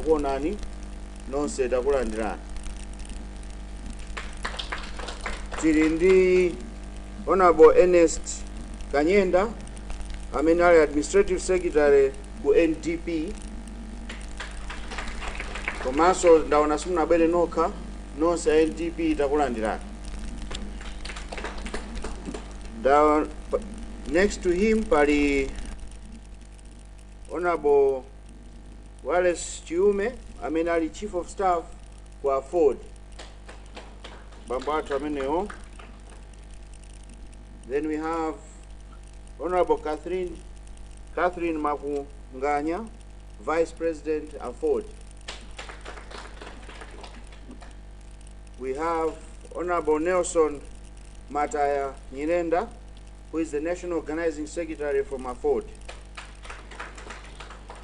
kukuonani nonse takulandirani tili ndi honorable ernest kanyenda amene ali administrative secretary ku ndp komanso ndaona simunabwere nokha nonse a ndp takulandirani next to him pali honorable Wallace Chiume amene ali Chief of Staff ku Aford, bambo athu amenewo. Then we have Honorable Catherine Catherine Makunganya, Vice President Aford. We have Honorable Nelson Mataya Nyirenda, who is the National Organizing Secretary from Aford.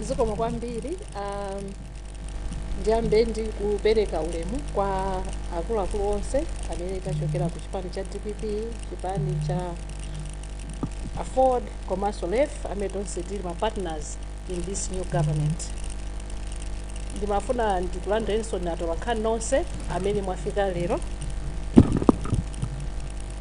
zikomo kwambiri um, ndiyambe ndi kupereka ulemu kwa akuluakulu onse amene tachokera ku chipani cha dpp chipani cha afford komanso lef amene tonse tili ma partners in this new government ndimafuna ndikulandireninso inu atolankhani nonse amene mwafika lero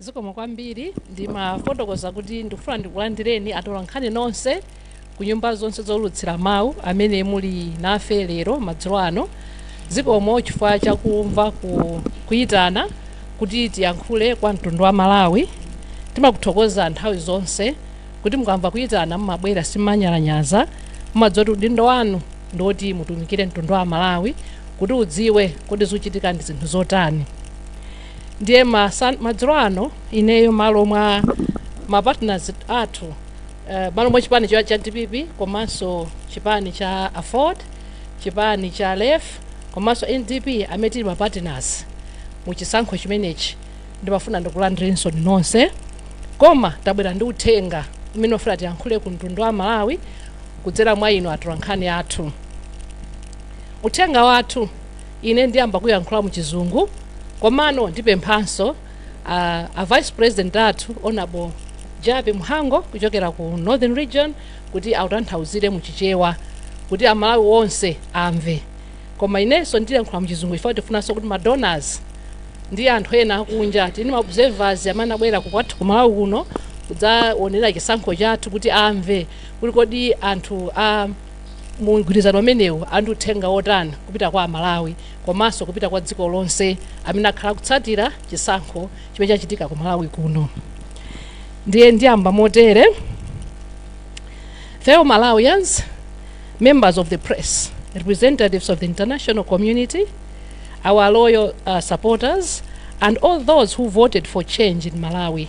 zikomo kwambiri ndimafotokoza kuti ndikufuna ndikulandireni atolankhani nonse ku nyumba zonse zoulutsira mawu amene muli nafe lero madzulo ano zikomo chifukwa chakumva ku, kuyitana kuti tiyankhule kwa mtundu wa malawi timakuthokozani nthawi zonse kuti mukamva kuyitana mumabwera simumanyalanyaza mumadziwa kuti udindo wanu ndiwoti mutumikire mtundu wa malawi kuti udziwe kuti zikuchitika ndi zinthu zotani ndiye masan- madzulo ano ineyo malo mwa mapartners athu eh, malo mwa chipani cha cha dpp komanso chipani cha afford chipani cha lef komanso ndp amene tili mapartners mu chisankho chimenechi ndimafuna ndikulandireninso inu nonse koma tabwera ndi uthenga umene tikufuna tiyankhule ku mtundu wa malawi kudzera mwa inu atolankhani athu. Uthenga wathu ine ndiyamba kuyankhula mu chizungu komano ndipemphanso a, a vice president athu honorable Jappie Mhango kuchokera ku Northern Region kuti autanthauzire mu Chichewa kuti Amalawi onse amve. Koma inenso ndiyankhula mu chizungu chifukwa tifunanso kuti ma donors ndi anthu ena akunja tini ma observers amene abwera ku kwathu ku Malawi kuno kudzaonera chisankho chathu kuti amve kuti kodi anthu a mu mgwirizano umenewu ali ndi uthenga wotani kupita kwa amalawi komanso kupita kwa dziko lonse amene akhala akutsatira chisankho chimene chachitika ku malawi kuno ndiye ndiyamba motere fellow malawians members of the press representatives of the international community our loyal uh, supporters and all those who voted for change in malawi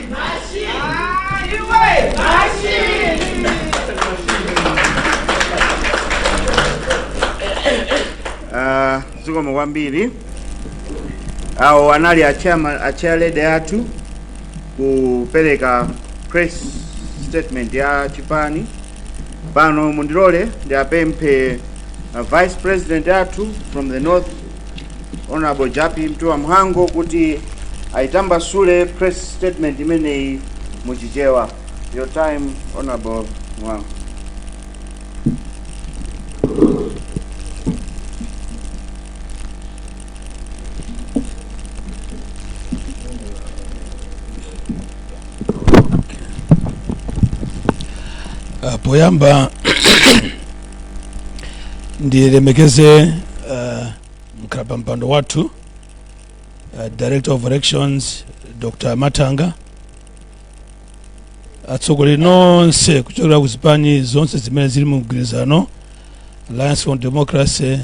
Ah, zikomo kwambiri awo anali achama- achairlady athu kupereka press statement ya chipani pano mundilole ndiapemphe uh, vice president athu from the north Honorable Japi Mtua Mhango kuti aitambasule press statement imeneyi mu Chichewa. Your time, Honorable Mhango. Ah, poyamba ndilemekeze uh, mkhalapampando wathu uh, director of elections dr matanga atsogoleri nonse kuchokera ku zipani zonse zimene zili mu mgwirizano alliance for democracy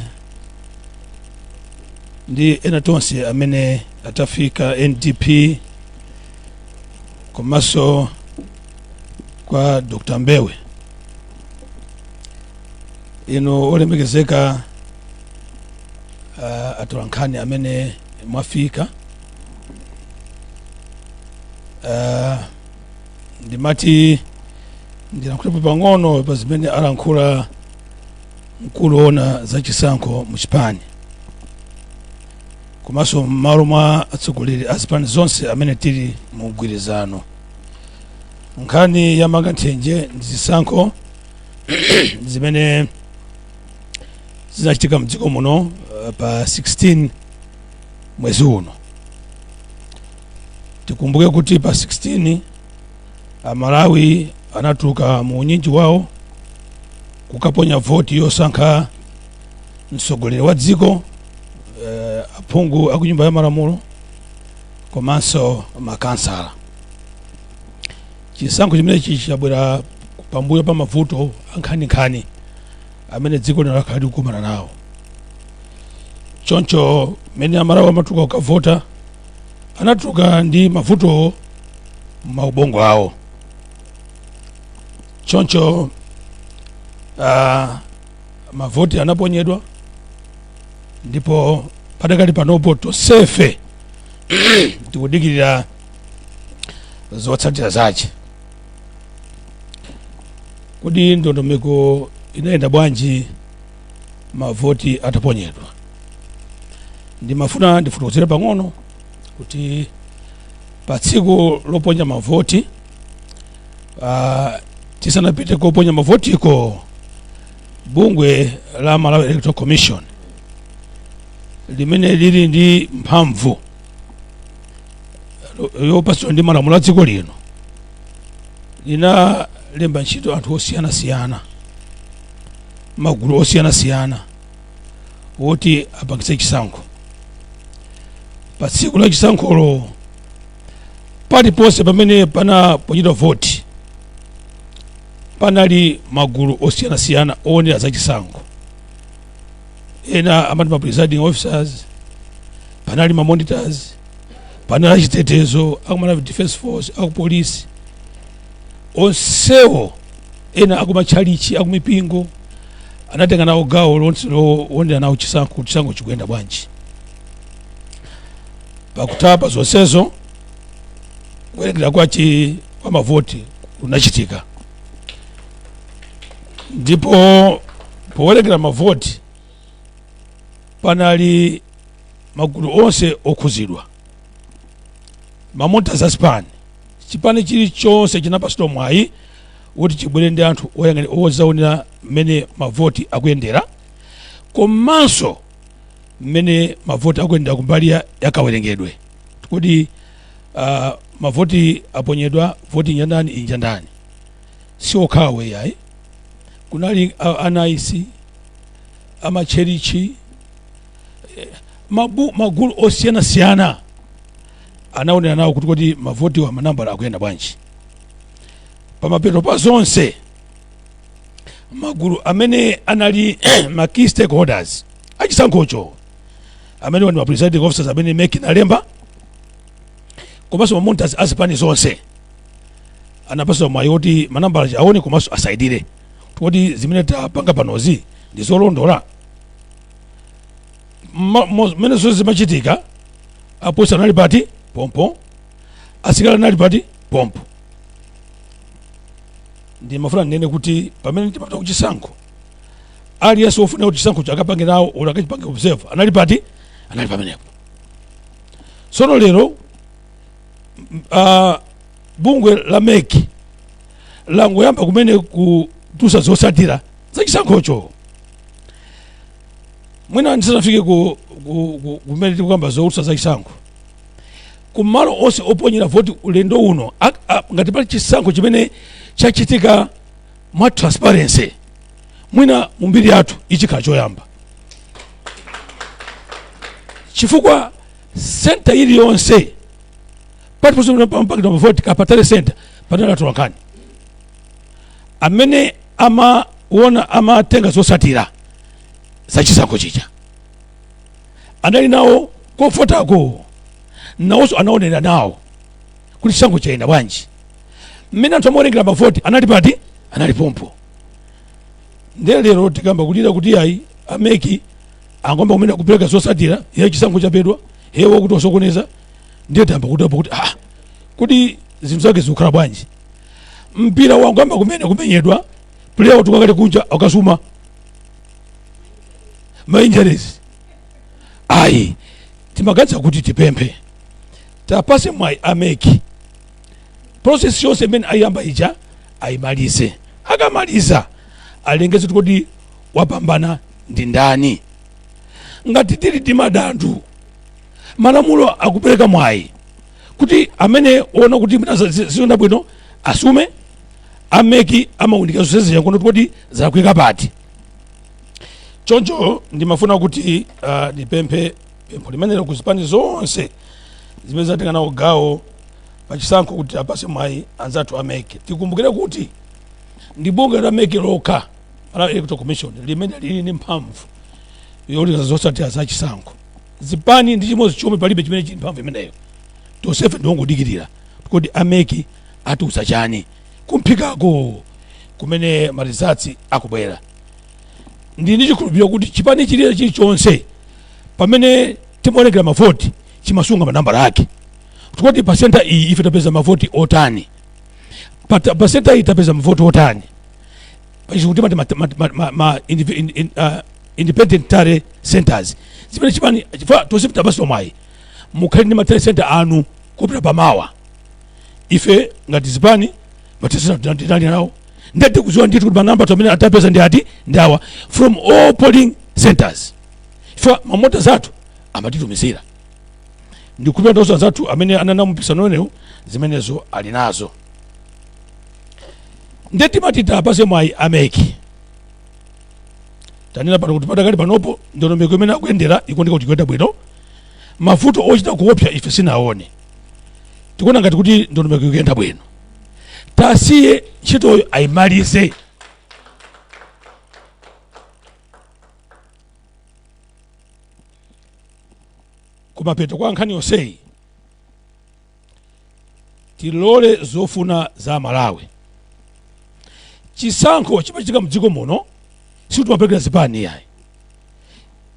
ndi ena onse amene atafika ndp komanso kwa dr mbewe inu olemekezeka uh, atolankhani amene mwafika uh, ndimati ndilankhulepo pang'ono pa zimene alankhula mkulu woona za chisankho mu chipani komanso m'malo mwa atsogoleri a zipani zonse amene tili mu mgwirizano nkhani ya mang'anthenje ndi zisankho zimene zinachitika mdziko muno uh, pa 16 mwezi uno tikumbuke kuti pa 16 amalawi anatuluka mu unyinji wawo kukaponya voti yosankha mtsogoleri wa dziko uh, aphungu aku nyumba ya malamulo komanso makansala chisankho chimenechi chabwera pambuyo pa mavuto ankhaninkhani amene dziko lino lakhala likukumana nawo choncho mmene amalawi amatuluka kukavota anatuluka ndi mavutowo m'maubongo awo choncho ah, mavoti anaponyedwa ndipo padakali panopo tonsefe tikudikirira zotsatira zace kodi ndondomeko inayenda bwanji mavoti ataponyedwa ndimafuna ndifotokozere pang'ono kuti pa tsiku loponya mavoti uh, tisanapite koponya mavotiko bungwe la malawi electoral commission limene lili ndi mphamvu lo- yopatsidwa ndi malamulo a dziko lino linalemba ntchito anthu osiyanasiyana magulu osiyanasiyana woti apangitse chisankho pa tsiku la chisankholo paliponse pamene panaponyedwa voti panali magulu osiyanasiyana owonera za chisankho ena amati ma presiding officers panali ma monitors panali achitetezo aku malawi defense force akupolisi onsewo ena akumatchalichi akumipingo anatenga nawo gawo lonse lowonera nawo chisankho chisankho chikuyenda bwanji pakutapa zonsezo kuwerengera kwa chi kwa mavoti kunachitika ndipo powerengera mavoti panali magulu onse okhuzidwa ma monitor a zipani chipani chilichonse chinapatsidwa mwayi kuti chibwere ndi anthu oyang'anira ozaonerera mmene mavoti akuyendera komanso mmene mavoti akuyendera kumbali ya, ya kawerengedwe kodi uh, mavoti aponyedwa voti inja ndani inja ndani si okhawo yayi kunali a- a nice amatchalichi eh, mabu- magulu osiyanasiyana anaonera nawo kuti kodi mavotiwa manambala akuyenda bwanji pamapeto pa zonse magulu amene anali ma key stakeholders achisankhocho amenewa ndi ma presiding officers amene mec inalemba komanso ma monitors a zipani zonse anapatsidwa mwayi woti manambala aja aone komanso asainire kuti zimene tapanga panozi ndi zolondola Ma- mo- mmene zonse zimachitika apolisi anali kuti pompo asilikali anali kuti pompo ndimafuna ndinene kuti pamene timapita kuchisankho aliyense wofuna kuti chisankho akapange nawo oti akachipange observe anali kuti anali pamenepo tsono lero m- ah, bungwe la mec langoyamba kumene kutusa zotsatira za chisankhocho mwina ndisanafike ku- ku- ku- kumene tikukamba zotulutsa za chisankho kumalo onse oponyera voti ulendo uno a- a- ngati pali chisankho chimene chachitika mwa transparency mwina mu mbiri yathu ichikhala choyamba chifukwa senta iliyonse pati pa zoponyera mavoti kapena tally center panali atolankhani amene amaona amatenga zosatira za chisankho chija anali nawo kofotako nawonso anaonera nawo kuti chisankho chayenda bwanji mmene anthu amawerengera mavoti anali pati anali pompo ndiye lero tikayamba kulira kuti ayi a MEC angoyamba kumene kupereka zosatira iye chisankho chabedwa ye wakuti wasokoneza ndiye tayamba kudabwa kuti ah kuti zinthu zake zikukhala bwanji mpira wangoyamba kumene kumenyedwa player watuluka kale kunja akasuma ma injuries ayi timaganiza kuti tipemphe tiwapatse mwayi a MEC process yonse imene ayiyamba ija ayimalize akamaliza alengeze kuti kodi wapambana ndi ndani ngati tili ndi madandu malamulo akupereka mwayi kuti amene waona kuti mwina zi- zi- sizinayende bwino asume a MEC akaunike zonse zija kuona kuti zalakwika pati choncho ndimafuna kuti uh, ndipemphe pempho limenelo ku zipani zonse zimene zatenga nawo gawo pachisankho kuti awapatse mwayi anzathu a MEC tikumbukire kuti ndi bungwe la MEC lokha malawi electoral commission limene lili ndi mphamvu yolengeza zosatira za chisankho zipani ndi chimodzi chomwe palibe chimene chili ndi mphamvu imeneyo tonsefe ndiongodikirira kuti a MEC atiuza chani kumphikako kumene ma results akubwera ndili ndi chikhulupiriro kuti chipani chiliye chilichonse pamene timawerengera mavoti chimasunga manambala ake kuti pa senta iyi ife tapeza mavoti otani pa ta- pa senta iyi tapeza mavoti otani kuphatikizapo kuti mwina ma- ma- ma- ma- ma- indiv- in- in- ah, independent tally centers zimene chipani chifukwa tonse tapatsidwa mwayi mukhale ndi ma tally center anu kupita pamwamba ife ngati zipani ma tally center tinali nawo ndiye tikudziwa ndithu kuti manambala athu amene tapeza ndi ati ndi awa from all polling centers ife ma monitor zathu amatitumizira ndikukhulupira anzathu amene anali nawo mumpikisano umenewu zimenezo ali nazo ndiye timati tiwapatse mwayi a MEC tanena pano kuti padakali panopo ndondomeko imene akuyendera ikuoneka kuti ikuyenda bwino mavuto ochita kuopsa ife sitinaone tikuona ngati kuti ndondomeko ikuyenda bwino tasiye ntchitoyo ayimalize kumapeto kwa nkhani yonseyi tilole zofuna za amalawi chisankho chimachitika mdziko muno sitimapelekera zipani yayi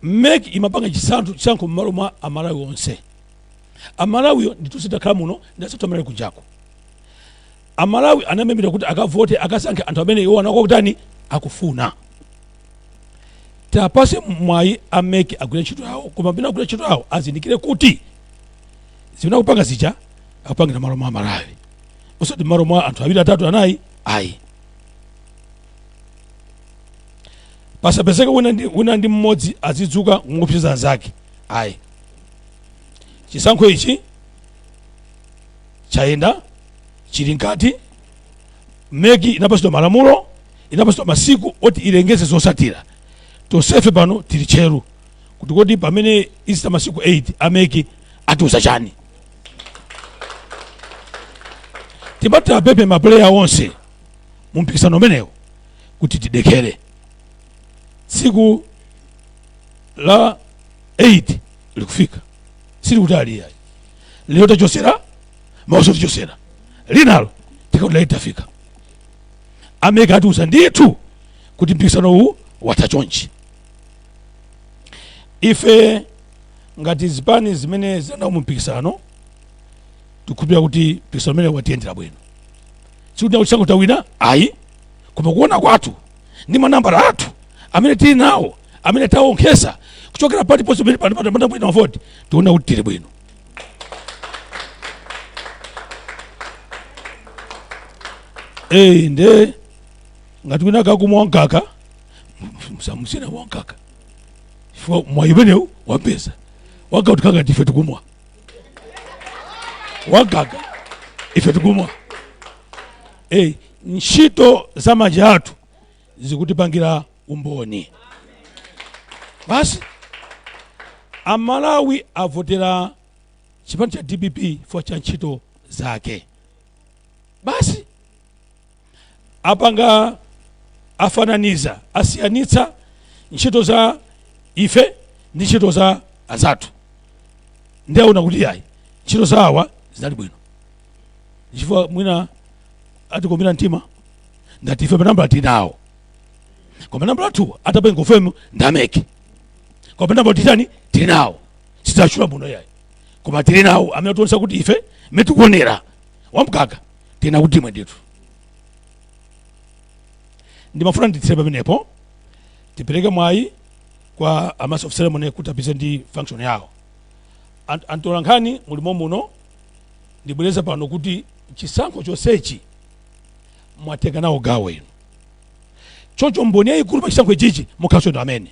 mec imapanga chisankho chisankho mmalo mwa amalawi onse amalawiyo ndi tonse takhala muno ndi anzathu amene ali kunjako amalawi anamemera kuti akavote akasankhe anthu amene iwo anakatani akufuna tiapatse mwayi a mec agwire ntchito yawo koma pamene agwira ntchito yawo azindikire kuti zimene akupanga zija akupangira mmalo mwa amalawi osati mmalo mwa anthu awiri atatu anayi ayi pasapezeke wina ndi mmodzi azidzuka nkuopseza anzake ayi chisankho ichi chayenda chili mkati mec inapatsidwa malamulo inapatsidwa masiku oti ilengeze zotsatira tonsefe pano tili tcheru kuti kodi pamene izitha masiku 8 a mec atiuza chani timati tiapemphe mapuleya onse mu mpikisano umenewu kuti tidekhere tsiku la 8 likufika silikutali yayi lero tachotsera mawanso tichotsera linalo tikakuti lija tafika a mec atiuza ndithu kuti mpikisano uwu watha chonchi ife ngati zipani zimene zinali nawo mu mpikisano tikukhulupirira kuti mpikisano umenewu watiyendera bwino sikuti tikuti chisankho tawina ayi koma kuona kwathu ndi manambala athu amene tili nawo amene tawonkhetsa kuchokera paliponse pamene panaponyedwa mavoti tiona kuti tili bwino eyi nde ngati wina akukumwa wamkaka msiyeni amwe wamkaka chifukwa mwayi umenewu wampeza wamkaka utikanga ndife tikumwa wamkaka ife tikumwa e, ntchito za manja athu zikutichitira umboni basi amalawi avotera chipani cha dpp chifukwa cha ntchito zake basi apanga afananiza asiyanitsa ntchito za ife ndi ntchito za anzathu ndiye aona kuti ayi ntchito za awa zinali bwino chifukwa mwina atikomera mtima ngati ife manambala tinawo koma nambala athu atapenga ufemu ndameke koma nambala titani tili nawo sidzachula muno yayi koma tili nawo amene tionesa kuti ife metikuonera wamkaka tina kuti imwe ndithu ndimafuna nditsire pamenepo tipereke mwayi kwa a master of ceremony kuti apitirize ndi function yawo Ant- atolankhani mulimo muno ndibwereza pano kuti chisankho chonsechi mwatenga nawo gawo inu choncho mboni yayikulu pa chisankho ichichi mukhalanso inu amene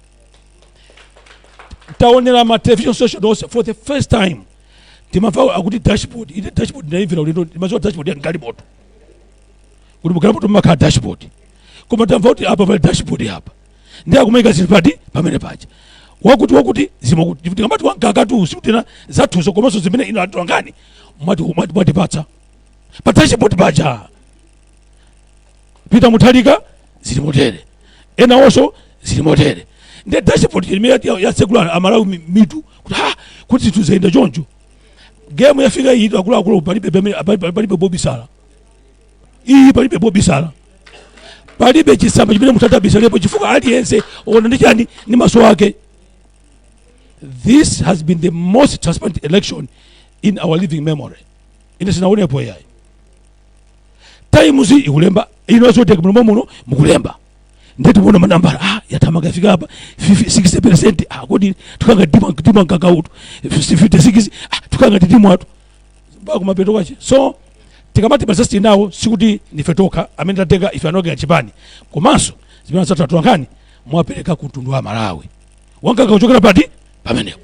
taonera ma television station onse for the first time ndimamva akuti dashboard ine dashboard ndayimvera ulendo ndimadziwa dashboard ya galimoto kuti mugalimoto mumakhala dashboard koma tamva kuti apa pali dashboard apa ndiye akumaika zinthu poti pamene paja wakuti wakuti zimakuti chifukwa tikamati wankakatu sikuti ndi zathuzo komanso zimene inu atolankhani mwati mwati mwatipatsa patsache poti paja pita muthalika zili motere ena onso zili motere ndi dashboard imene ya- ya secular amalawi mi- mitu kuti ha kuti zinthu zayenda choncho game yafika iyi akuluakulu palibe pamene- palibe palibe pobisala iyi palibe pobisala palibe chisamba chimene munthu atabisalepo chifukwa aliyense waona ndi chani ndi maso ake this has been the most transparent election in our living memory ine sindinaonepo yayi times ikulemba inonso teka muno muno mukulemba ndeti muona manambala ah yatamaka fika apa 60 percent ah kodi tukanga dima dima kakautu 56 ah tukanga dima watu mpaka kumapeto kwache so tikamati masesti nawo sikuti ndife tokha amene tatenga ife anokera chipani komanso zimene anzathu atolankhani mwapereka ku mtundu wa malawi wankaka kuchokera pati-pati pamenepo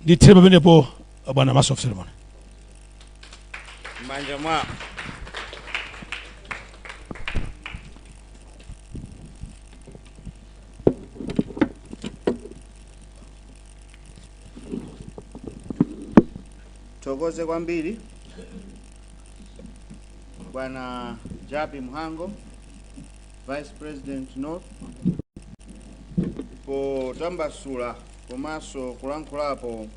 ndithere pamenepo bwana master of ceremony m'manja mwa Tithokoze kwambiri bwana Japi Mhango, Vice President North, potambasula komanso kulankhulapo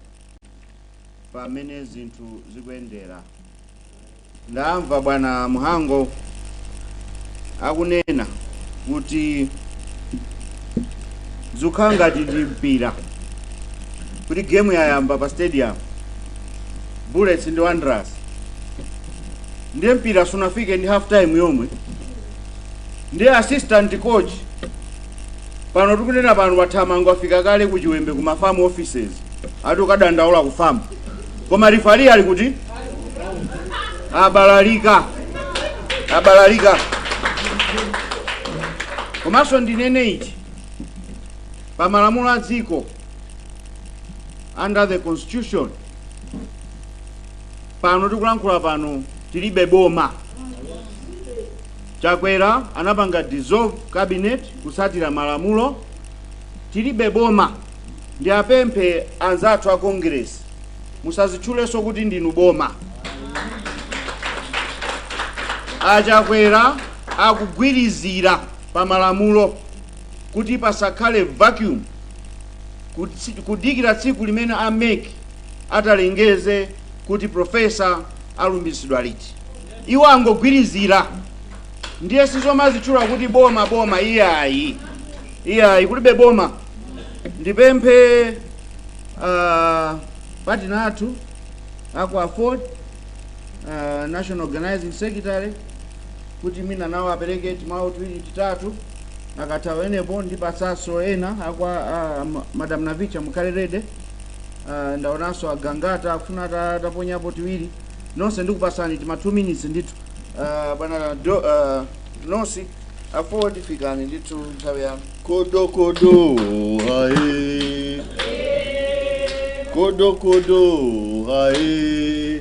mmene zinthu zikuyendera ndamva bwana mhango akunena kuti zikukhala ngati ndi mpira kuti gemu yayamba pa stadium bullets ndi wanderers ndiye mpira sunafike ndi half time yomwe ndiye assistant coach pano tikunena pano athamanga afika kale ku chiwembe ku ma FAM offices ati akadandaula ku FAM koma referee ali kuti abalalika abalalika komanso ndinene ichi pa malamulo a dziko under the constitution pano tikulankhula pano tilibe boma Chakwera anapanga dissolve cabinet kutsatira malamulo, tilibe boma ndiwapemphe anzathu a Congress musazitchulenso kuti ndinu boma. A Chakwera akugwirizira pa malamulo kuti pasakhale vacuum kutsi- kudikira tsiku limene a mec atalengeze kuti professor alumbiritsidwa liti. Iwo angogwirizira ndiye sizomazitchula kuti boma boma iyayi iyayi kulibe boma ndipemphe uh, partner athu akwa aford uh, national organizing secretary kuti mwina nawo apereke timawu tiwiri titatu akatha awa enepo ndipatsanso ena akwa uh, ma- madam navicha mukhale ready uh, ndaonanso a Gangata akufuna ata- ataponyapo tiwiri nonse ndikupatsani tima 2 minutes ndithu Ah, bwana do ah, nos a aford fikani ndithu nthawi yanu Kodo kodo hae. Kodo kodo hae.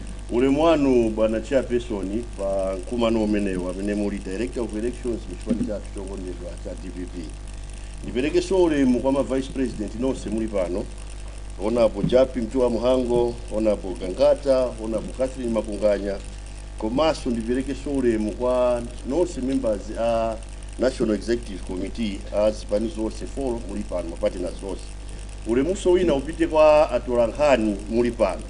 Ulemu wanu bwana chairperson pa mkumano umenewu amene muli director of elections mu chipani chathu chokondedwa cha dpp ndiperekenso ulemu kwa ma vice president nonse muli pano honorable jappie mtuwa mhango honorable gangata honorable catherine makunganya komanso ndiperekenso ulemu kwa nonse members a national executive committee a zipani zonse 4 muli pano ma partner onse Ulemunso wina upite kwa atolankhani muli pano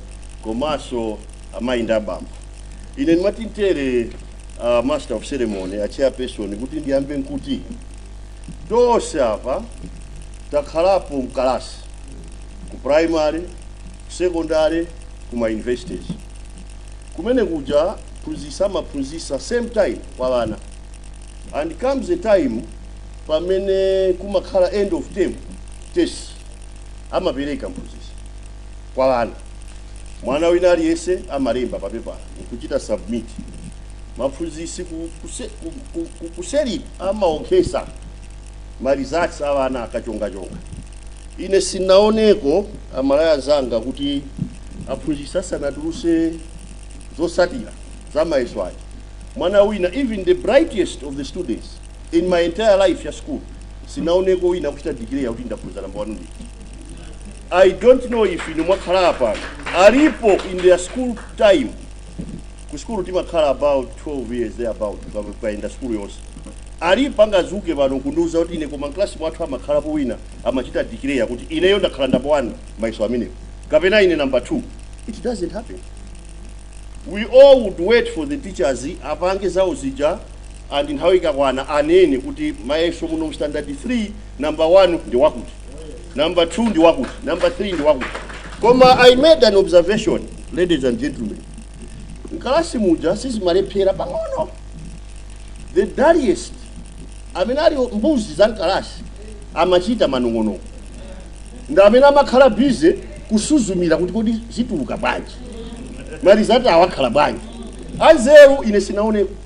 komaso amayi ndi abambo. Ine ndimati ntere a master of ceremony a chairperson kuti ndiyambe nkuti tonse apa takhalapo mkalasi ku primary, secondary kuma universities. Kumene kuja phunzisa amaphunzisa same time kwa wana and comes a time pamene kumakhala end of term Test amapereka mphunzitsi kwa ana. Mwana wina aliyense amalemba papepala nkuchita submit. Maphunzitsi ku, kuse, ku, ku, ku, kuseliku amaonkhesa ma results a ana akachongachonga. Ine sinaoneko Amalawi anzanga kuti aphunzitsi asanatuluse zotsatira za mayeso aja. Mwana wina even the brightest of the students in my entire life ya school sinaoneko wina kuchita declare kuti ndakhoza namba wani ndi i don't know if inu mwakhala apa alipo in their school time ku school timakhala about 12 years there about tikuyenda school yonse alipo angazuke pano kundiuza kuti ine koma mklasi mwathu amakhalapo wina amachita declare kuti ineyo ndakhala namba 1 mayeso amenewo kapena ine namba 2 it doesn't happen we all would wait for the teachers apange zawo zija and nthawi ikakwana anene kuti mayeso muno mu standard 3 number 1 ndi wakuti number 2 ndi wakuti number 3 ndi wakuti koma i made an observation ladies and gentlemen mkalasi muja sizimalephera pang'onong'ono the dullest amene ali mbuzi za mkalasi amachita manong'onong'o ndi amene amakhala bize kusuzumira kuti kodi zituluka bwanji marizati awa akhala bwanji anzeru ine sinaoneko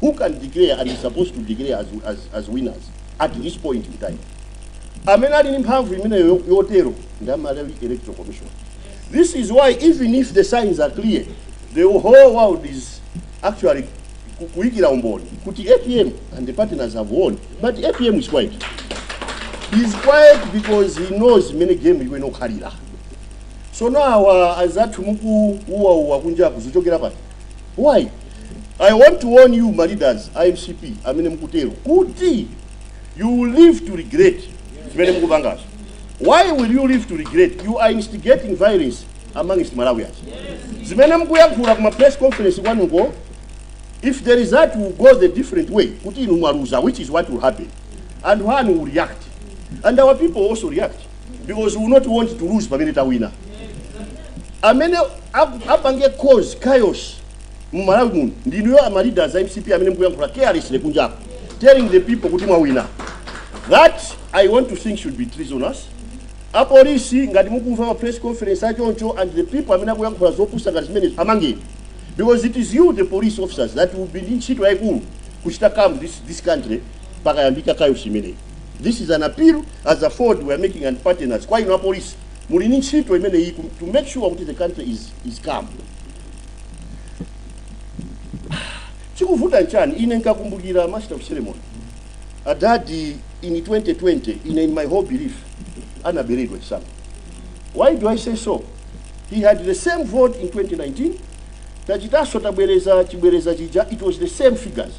who can declare and is supposed to declare as, as, as winners at this point in time amene ali ndi mphamvu imeneyo yo- yotero ndi a malawi electoral commission this is why even if the signs are clear the whole world is actually ku- kuyikira umboni kuti apm and the partners have won but apm is quiet he's quiet because he knows imene game iyi imakhalira so now uh, anzathu mukuuwauwa kunjaku zichokera pati why i want to warn you ma leaders a mcp amene mukutero kuti you will live to regret zimene mukupangazo why will you live to regret you are instigating violence amongst malawians zimene mukuyankhula kuma press conference kwanuko if there is that will go the different way kuti inu mwaluza which is what will happen and one will react and our people also react because we will not want to lose pamene tawina amene ap- apange cause chaos mu malawi muno ndinuyo ama leaders a mcp amene mukuyankhula carelessly kunjapo telling the people kuti mwawina that i want to think should be treasonous apolisi ngati mukumva ma press conference achoncho and the people amene akuyankhula zopusa ngati zimenezi amangeni because it is you the police officers that will be ndi ntchito yayikulu kuchita calm this, this country pakayambika chaos imeneyi This is an appeal as a Ford we are making and partners. Kwa ino apolisi muli ni ntchito imene iyi ku- to make sure kuti the country is, is calm. Chikuvuta nchani ine nkakumbukira master of ceremony adadi in 2020 ine in my whole belief anaberedwa chisankho. Why do I say so? He had the same vote in 2019 tachitaso tabwereza chibwereza chija it was the same figures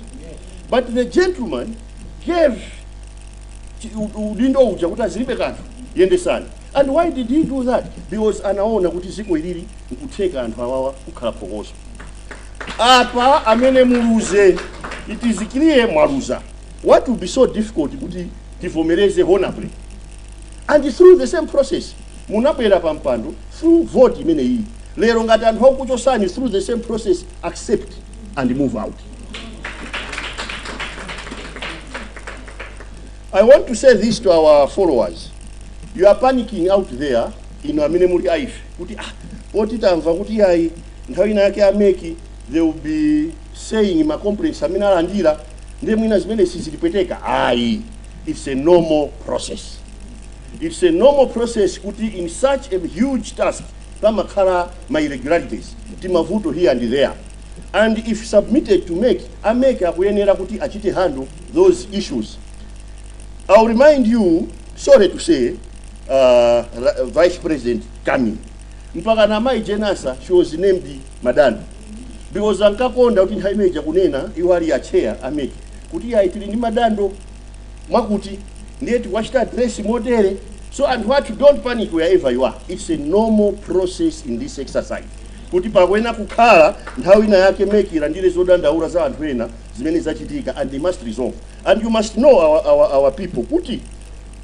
but the gentleman gave chi- u- u- udindo uja kuti azilibe kanthu yendesani and why did he do that because anaona kuti ziko ilili nkutheka anthu awawa kukhala phokoso apa amene aluze it is clear mwaluza what would be so difficult kuti muvomereze honorably and through the same process munabwera pa mpando through vote imeneyi lero ngati anthu akuchosani through the same process accept and move out I want to say this to our followers. You are panicking out there inu amene muli a ife kuti ah poti tamva kuti ayi nthawi ina yake a mec they will be saying ma complaints amene alandira ndiye mwina zimene sizilipweteka ayi it's a normal process it's a normal process kuti in such a huge task pamakhala ma irregularities timavuto here and there and if submitted to mec, a mec akuyenera kuti azichita handle those issues. I'll remind you, sorry to say, uh, Ra- Vice President Kamlepo, mpakana Mai Jane Ansah, she was named Madando. Because ankakonda kuti nthawi imeja kunena iwo ali a chair a mec kuti ayi tili ndi madando akuti ndiye tikuwachita address motero so anthu athu don't panic wherever you are it's a normal process in this exercise kuti pakuyenera kukhala nthawi ina yake mec ilandire zodandaura za anthu ena zimene zachitika and they must resolve and you must know our, our, our people kuti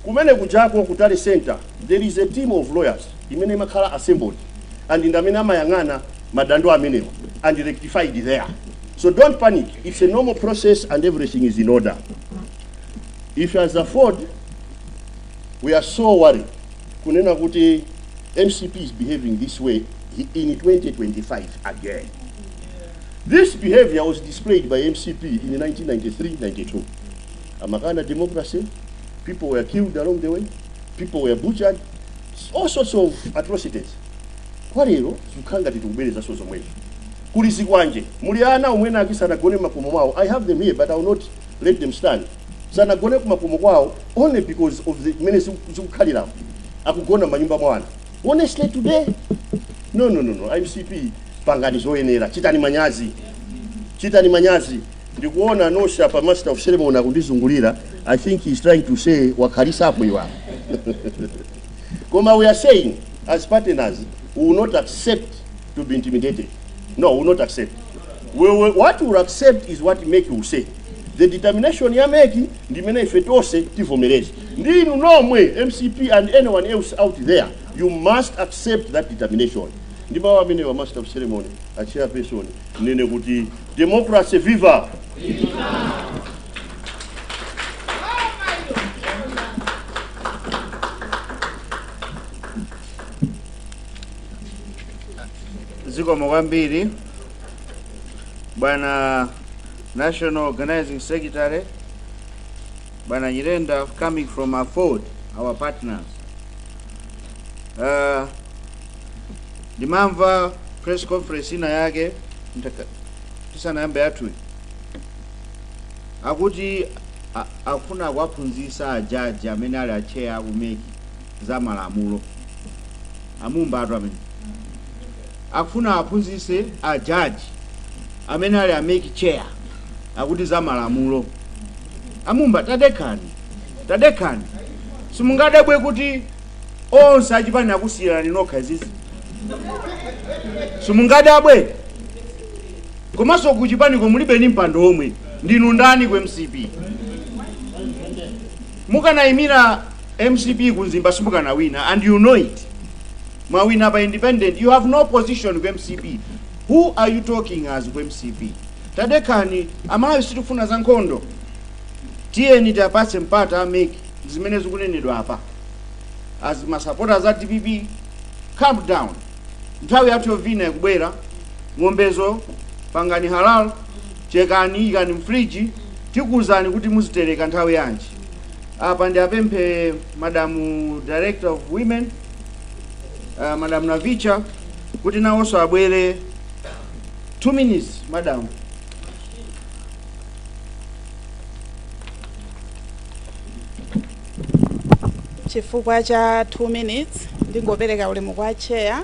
kumene kujako ku tally center there is a team of lawyers imene imakhala assembled and ndi amene amayang'ana madando amenewo and rectified there so don't panic it's a normal process and everything is in order if as afford we are so worried kunena kuti mcp is behaving this way in 2025 again this behavior was displayed by mcp in 1993-92 amakana democracy people were killed along the way people were butchered all sorts of atrocities kwa lero zikukhala ngati tikubwerezanso zomwezo kuli zikwanje muli ana omwe ena ake sanagone m'makomo mwawo i have them here but i will not let them stand sanagone kumakomo kwawo only because of the mmene ziku- zikukhaliramo akugona m'manyumba mwa anthu honestly today no no no no mcp pangani zoyenera chitani manyazi chitani manyazi ndikuona nonse apa a master of ceremony akundizungulira i think he is trying to say wakhalitsapo iwe koma we are saying as partners we will not accept to be intimidated no we will not accept we will, what we will accept is what mec will say the determination ya mec ndi imene ife tonse tivomereze ndi inu nomwe mcp and anyone else out there you must accept that determination ndi mawu amenewa a master of ceremony a chairperson ndinene kuti democracy viva zikomo kwambiri bwana National Organizing Secretary Bwana Nyirenda coming from AFORD our partners uh, ndimamva press conference ina yake ndaka- tisanayamba yathuyi akuti a- akufuna kuwaphunzitsa ajaji amene ali a chair a ku MEC za malamulo a Mumbatu amene Akufuna aphunzise a judge amene ali a mec chair akuti za malamulo. A Mumba tadekhani, tadekhani. Simungadabwe kuti onse achipani akusiyirani nokha izizi? Simungadabwe? Komanso kuchipaniko mulibe ni mpando omwe. Ndinu ndani ku MCP? Mukanayimira MCP ku Mzimba simukanawina and you know it. Mwawina pa independent you have no position ku MCP who are you talking as ku MCP tadekhani Amalawi sitikufuna za nkhondo tiyeni tiapatse mpata a MEC zimene zikunenedwa apa as masapota a DPP calm down nthawi yathu yovina ikubwera ng'ombezo pangani halal chekani ikani m'friji tikuwuzani kuti muzitereka nthawi yanji apa ndi apemphe madamu director of women uh, madam Navicha kuti nawonso abwere 2 minutes madam chifukwa cha 2 minutes ndingopereka ulemu kwa chair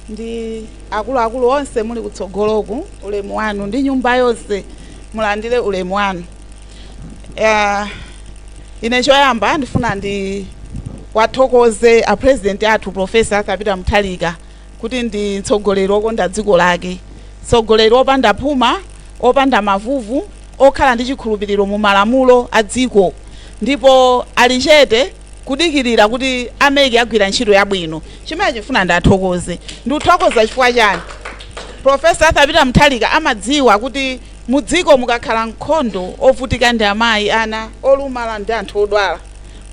ndi akuluakulu onse muli kutsogoloku ulemu wanu ndi nyumba yonse mulandire ulemu wanu Eh, ine choyamba ndifuna ndiwathokoze a president athu profesa Arthur Peter Mutharika kuti ndi mtsogoleri wokonda dziko lake mtsogoleri opanda phuma opanda mavuvu okhala ndi chikhulupiriro mu malamulo a dziko ndipo ali chete kudikirira kuti a MEC agwira ntchito yabwino chimene ndifuna ndiwathokoze ndikuthokoza chifukwa chani profesa Arthur Peter Mutharika amadziwa kuti Mudziko mukakhala nkhondo, ovutika ndi amayi, ana, olumala ndi anthu odwala.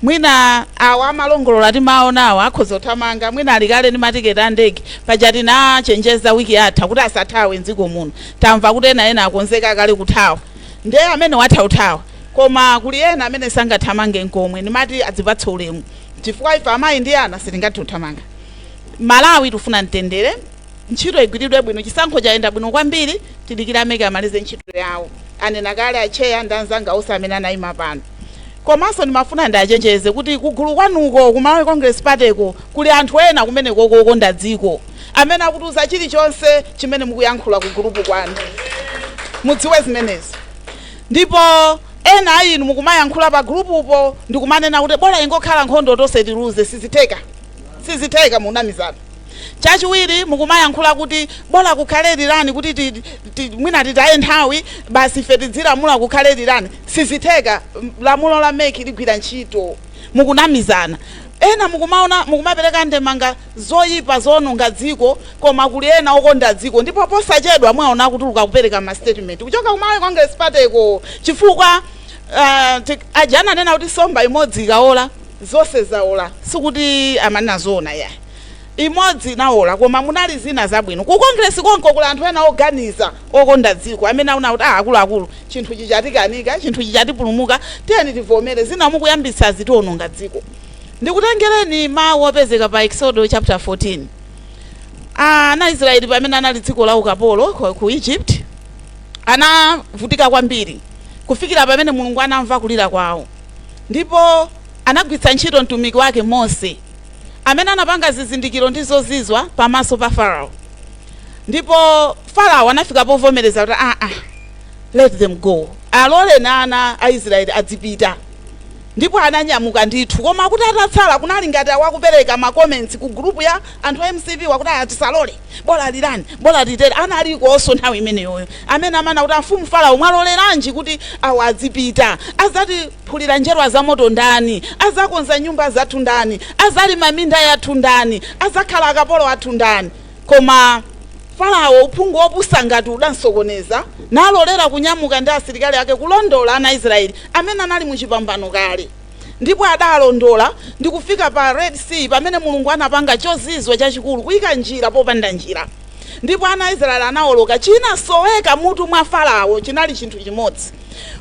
Mwina awa amalongolola timawaonawa akhoza kuthamanga, mwina ali kale ndi matiketi a ndege. Paja tinawachenjeza week yatha kuti asathawe m'dziko muno. Tamva kuti ena ena akonzeka kale kuthawa. Nde amenewo atha kuthawa. Koma kuli ena amene sangathamange nkomwe. Ndimati adzipatse ulemu. Chifukwa ife amayi ndi ana sitingathe kuthamanga. Malawi tikufuna mtendere. ntchito igwiridwe bwino chisankho chayenda bwino kwambiri tidikire a MEC amalize ntchito yawo anena kale acheya ndi anzanga onse amene anayima pano komanso ndimafuna ndiachenjeze kuti kugulu kwanuko ku malawi congress partyko kuli anthu ena kumeneko okonda dziko amene akutiuza chilichonse chimene mukuyankhula ku gulupu kwanu mudziwe zimenezo ndipo ena a inu mukumayankhula pa gulupupo ndikumanena kuti bola ingokhala nkhondo tonse tiluze sizitheka sizitheka munamizana Chachiwiri, mukumayankhula kuti bola kukhale rerun kuti ti, ti, mwina titaye nthawi basi ife tidzilamula kukhale rerun. Sizitheka, m- lamulo la MEC ligwira ntchito. Mukunamizana. Ena mukumaona mukumapereka ndemanga zoyipa zoononga dziko koma kuli ena okonda dziko ndipo posachedwa muwaona akutuluka kupereka ma statement kuchoka ku Malawi Congress Party ko chifukwa ah, ti- aja ananena kuti somba imodzi ikaola zonse zaola sikuti amanena zoona yayi Imodzi inawola, koma munali zina zabwino. Ku Congress konko kuli anthu ena oganiza, okonda dziko, amene awona kuti ah akuluakulu, chinthuchi chatikanika, chinthuchi chatipulumuka, tiyeni tivomere, zina mukuyambitsazi tiwononga dziko. Ndikutengereni mawu opezeka pa Eksodo chapter 14. Ana Israeli pamene anali dziko la ukapolo ku- ku Egypt, anavutika kwambiri kufikira pamene Mulungu anamva kulira kwawo, ndipo anagwiritsa ntchito mtumiki wake Mose amene anapanga zizindikiro ndi zozizwa pamaso pa Farao. Ndipo Farao anafika povomereza kuti ah ah let them go. Alole na ana a Israeli adzipita. Ndipo ananyamuka ndithu koma kuti atatsala kunali ngati awakupereka ma comments ku group ya anthu a MCP akuti a tisalole. Bola rerun, bola litere analikonso nthawi imeneyoyo amene amanena kuti amfumu Farao mwaloleranji kuti awa adzipita? Adzatiphulira njerwa zamoto ndani? Adzakonza nyumba zathu ndani? Adzalima minda yathu ndani? Adzakhala akapolo athu ndani? Koma Farao, uphungu wopusa ngati udamsokoneza, nalolera kunyamuka ndi asilikali ake kulondola ana a Israyeli amene anali mu chipambano kale. Ndipo adaalondola ndi kufika pa Red Sea, pamene Mulungu anapanga chozizwa chachikulu, kuika njira popanda njira. Ndipo ana a Israeli anaoloka. Chinasoweka mutu mwa Farawo chinali chinthu chimodzi.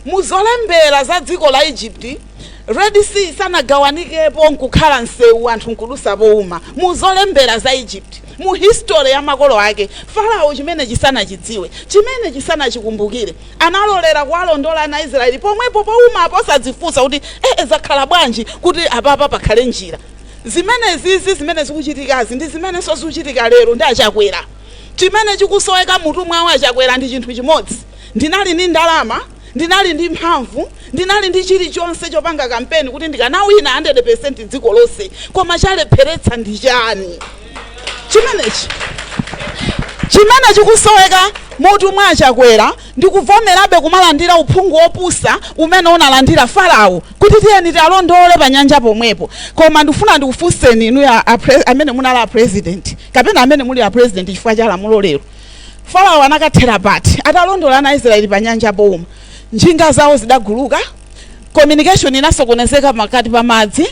Mu zolembera za dziko la Egypt, Red Sea sanagawanikepo nkukhala msewu anthu nkudutsa pouma. Mu zolembera za Egypt, mu history ya makolo ake, Farawo chimenechi sanachidziwe, chimenechi sanachikumbukire. Analolera kuwalondola ana a Israeli pomwepo poumapo osadzifunsa kuti eeh zakhala bwanji kuti apapa pakhale njira. Zimenezizi zimene zikuchitikazi ndi zimenenso zikuchitika lero ndi a Chakwera. Chimene chikusoweka m'mutu mwawo a Chakwera ndi chinthu chimodzi, ndinali ndi ndalama, ndinali ndi mphamvu, ndinali ndi chilichonse chopanga kampeni kuti ndikanawina 100% dziko lonse koma chalepheretsa ndi chani? chimenechi chimene chikusoweka m'mutu mwa achakwera ndi kuvomerabe kumalandira uphungu wopusa umene analandira farao kuti tiyeni tialondole pa nyanja pomwepo koma ndifuna ndikufunseni inu ya a pre- amene munali a president kapena amene muli a president chifukwa cha lamulo lero farao anakathera pati atalondola ana aisraeli pa nyanja pouma njinga zawo zidaguluka communication inasokonezeka pakati pa madzi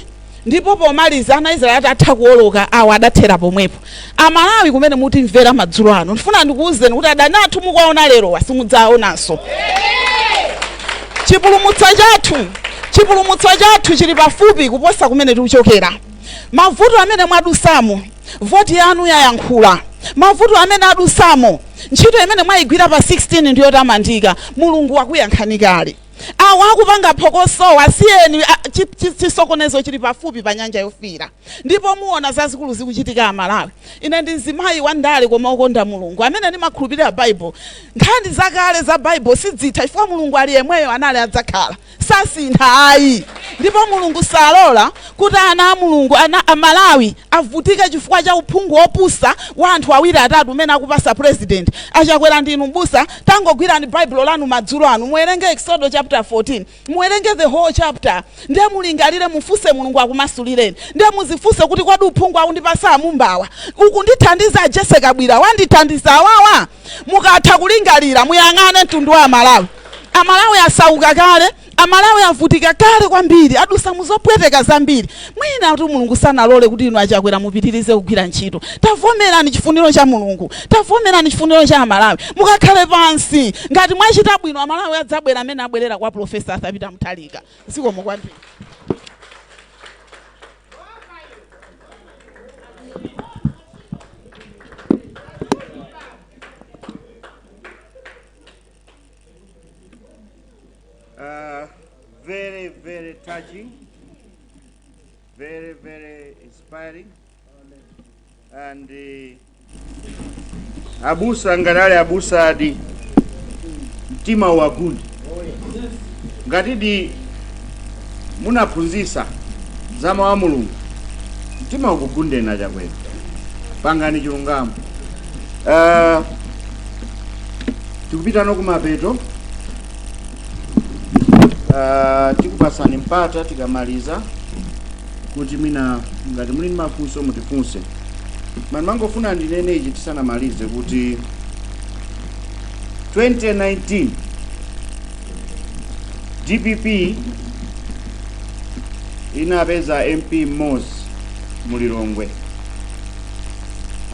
ndipo pomaliza ana aisraeli atatha kuwoloka awo adathera pomwepo amalawi kumene mutimvera madzulo ano ndifuna ndikuwuzeni kuti adani athu mukuwaona lero simudzawaonanso chipulumutso chathu chipulumutso chathu chili pafupi kuposa kumene tikuchokera mavuto amene mwadusamo voti yanu yayankhula mavuto amene mwadusamo ntchito imene mwayigwira pa 16 ndiyotamandika mulungu wakuyankhani kale Awa akupanga phokosowa si eni a chi, chi, chisokonezo chili pafupi pa nyanja yofiira ndipo muona zazikulu zikuchitika amalawi ine ndi mzimayi wa ndale koma okonda mulungu amene ndimakhulupirira baibulo nkhani zakale za baibulo sidzitha chifukwa mulungu ali yemweyo anali adzakhala sasintha ayi ndipo mulungu salola kuti ana a mulungu ana amalawi avutike chifukwa cha uphungu wopusa wa anthu awiri atatu umene akupatsa president achakwera ndinu mbusa tangogwirani baibulo lanu madzulo anu muwerenge exodo chapter 14 muwerenge the whole chapter ndiye mulingalire mufunse mulungu akumasulireni ndiye muzifunse kuti kodi uphungu akundipasa amumbawa ukundithandiza ajese kabwira wandithandiza awawa mukatha kulingalira muyang'ane mtundu wa amalawi amalawi asauka kale Amalawi avutika kale kwambiri, adusa muzopweteka zambiri, mwinatu Mulungu sanalole kuti inu a Chakwera mupitilize kugwira ntchito. Tavomerani chifuniro cha Mulungu, tavomerani chifuniro cha Amalawi, mukakhale pansi. Ngati mwachita bwino Amalawi adzabwera mmene abwerera kwa Prof. Arthur Peter Mutharika. Zikomo kwambiri. Uh, very, very touching, very, very inspiring. And uh, abusa nganali abusa adi mtima wagundi ngatidi munaphunzisa za mawu a mulungu mtima ukugundeni achakwera pangani chilungamo Eh, tikupitano kumapeto Eh, tikupatsani mpata tikamaliza kuti mwina ngati muli ndi mafunso mutifunse ndimangofuna ndinene ichi tisanamalize kuti 2019 dpp inapeza mp mmodzi mu lilongwe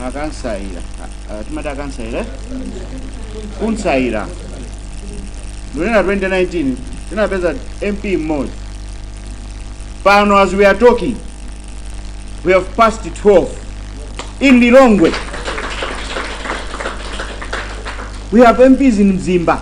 akansaira A- a- timati akansaira eh? khansala? Ndikunena 2019 tinapeza mp mmodzi pano as we are talking we have passed 12 in lilongwe we have mps in mzimba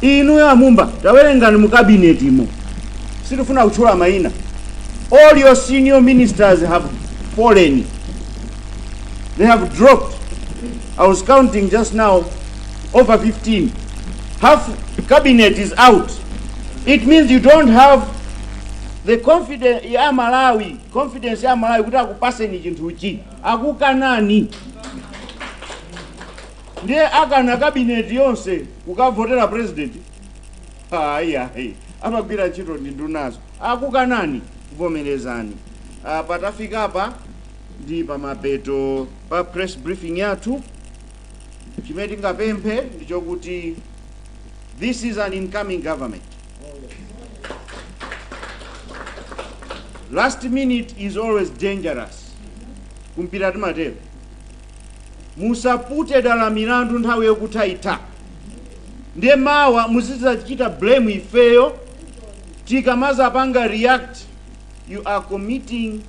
inuyo a Mumba tawerengani mu kabinetimo sitifuna kutchula mayina all your senior ministers have fallen they have dropped i was counting just now over 15 half cabinet is out it means you don't have the confidence ya malawi confidence ya malawi kuti akupaseni chinthuchi akukanani ndiye akana kabineti yonse kukavotera president ayi ayi amagwira ntchito ndi ndunazo akukanani vomerezani Ah, patafika apa ndi pamapeto pa press briefing yathu chimene tingapemphe ndichokuti this is an incoming government last minute is always dangerous kumpira timatero musapute dala milandu nthawi yokutha itha ndiye mawa muzidzachita blame ifeyo tikamazapanga react you are committing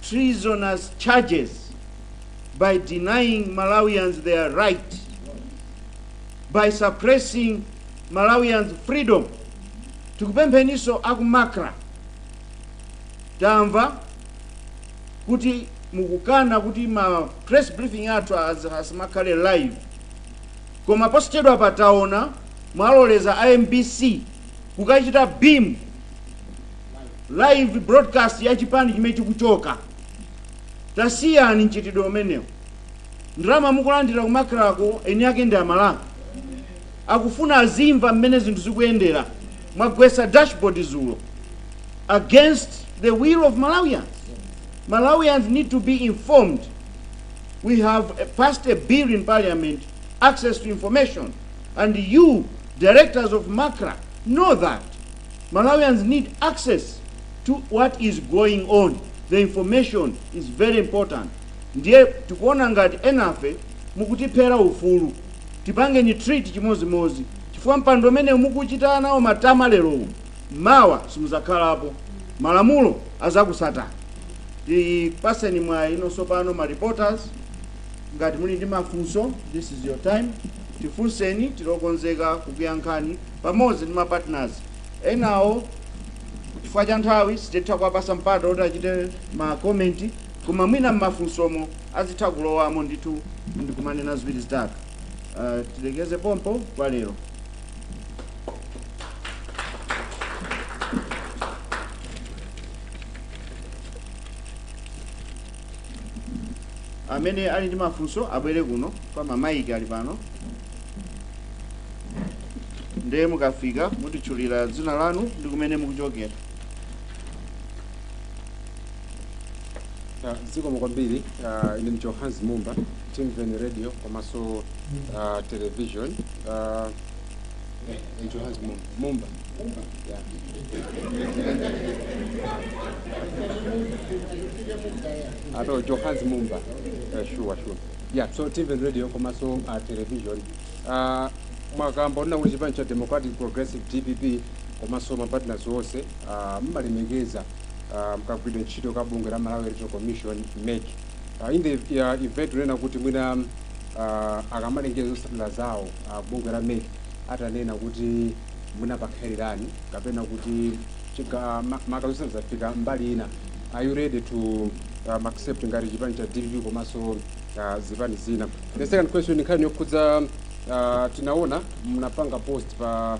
treasonous charges by denying malawians their right by suppressing malawians freedom tikupempheniso aku MACRA tamva kuti mukukana kuti ma press briefing athu az- asamakhale live koma posachedwapa taona mwaloleza a mbc kukachita beam live broadcast ya chipani chimene chikuchoka tasiyani mchitidwe umenewo ndalama mukulandira ku MACRA ko eni ake ndi amalawi Akufuna azimva mmene zinthu zikuyendera. Mwagwetsa dashboard zulo against the will of Malawians. Malawians need to be informed. We have passed a bill in parliament, access to information, and you directors of Macra know that Malawians need access to what is going on. The information is very important. Ndiye tikuona ngati enafe mukutiphera ufulu. Tipangeni treat chimodzimodzi chifukwa mpando umenewu mukuchita nawo matama lerowu mawa simuzakhalapo malamulo azakutsatani tipaseni mwayi tsopano ma reporters ngati muli ndi mafunso this is your time tifunseni tilokonzeka kukuyankhani pamodzi ndi ma partners enawo chifukwa cha nthawi sititha kuwapasa mpata kuti achite ma comment Koma mwina mmafunsomo adzitha kulowamo ndithu ndikumanena ziwiri zitatu. Uh, tilekeze pompo kwa lero. amene ali ndi mafunso abwere kuno kwa mamaiki ali pano ndiye mukafika mutitchulira dzina lanu ndi kumene mukuchokera Ah, zikomo kwambiri ah, ine ndicho hans mumba timveni radio komanso ah, television Ah, eh, ndicho hans mumba mumba Yeah. ato johans mumba Eh, sure sure yeah so tv radio komanso uh, television uh, mwakamba onena kuti chipani cha democratic progressive dpp komanso mapartners onse uh, mmalemekeza uh, mkagwidwe ntchito ka bungwe la Malawi Electoral Commission MEC uh, in the uh, event unena kuti mwina uh, akamalengeza zotsatira zawo uh, bungwe la MEC atanena kuti mwina pakhala rerun kapena kuti chiga- ma- maka zotsatira zapita mbali ina are you ready to um, accept ngati chipani cha DPP komanso uh, zipani zina the second question nkhani yokhudza uh, tinaona munapanga post pa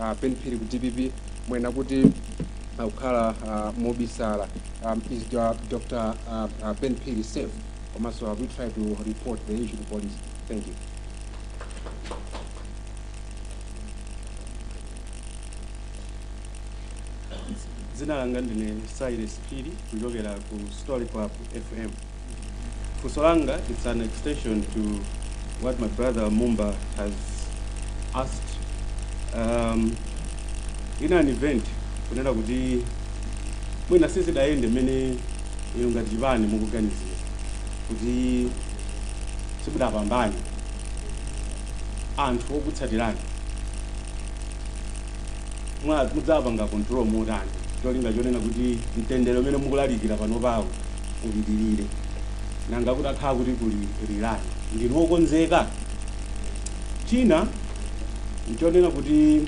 uh, Ben Phiri ku dpp mwena kuti uh, kukhala uh, mobisala um, is the, uh, Dr. Uh, uh, Ben Phiri safe komanso have we tried to report the issue to police thank you dzina langa ndine cyrus phiri kuchokera ku story club fm funso langa it's an extension to what my brother mumba has asked um, in an event, kunena kuti mwina sizidayende mmene inu ngati chipani mukuganizira kuti simudapambane anthu okutsatirani mwa- mudzapanga control motani cholinga chonena kuti mtendere umene mukulalikira pano pawo upitilire, nanga kutakhala kuti kuli rerun, ndinu okonzeka? China nchonena kuti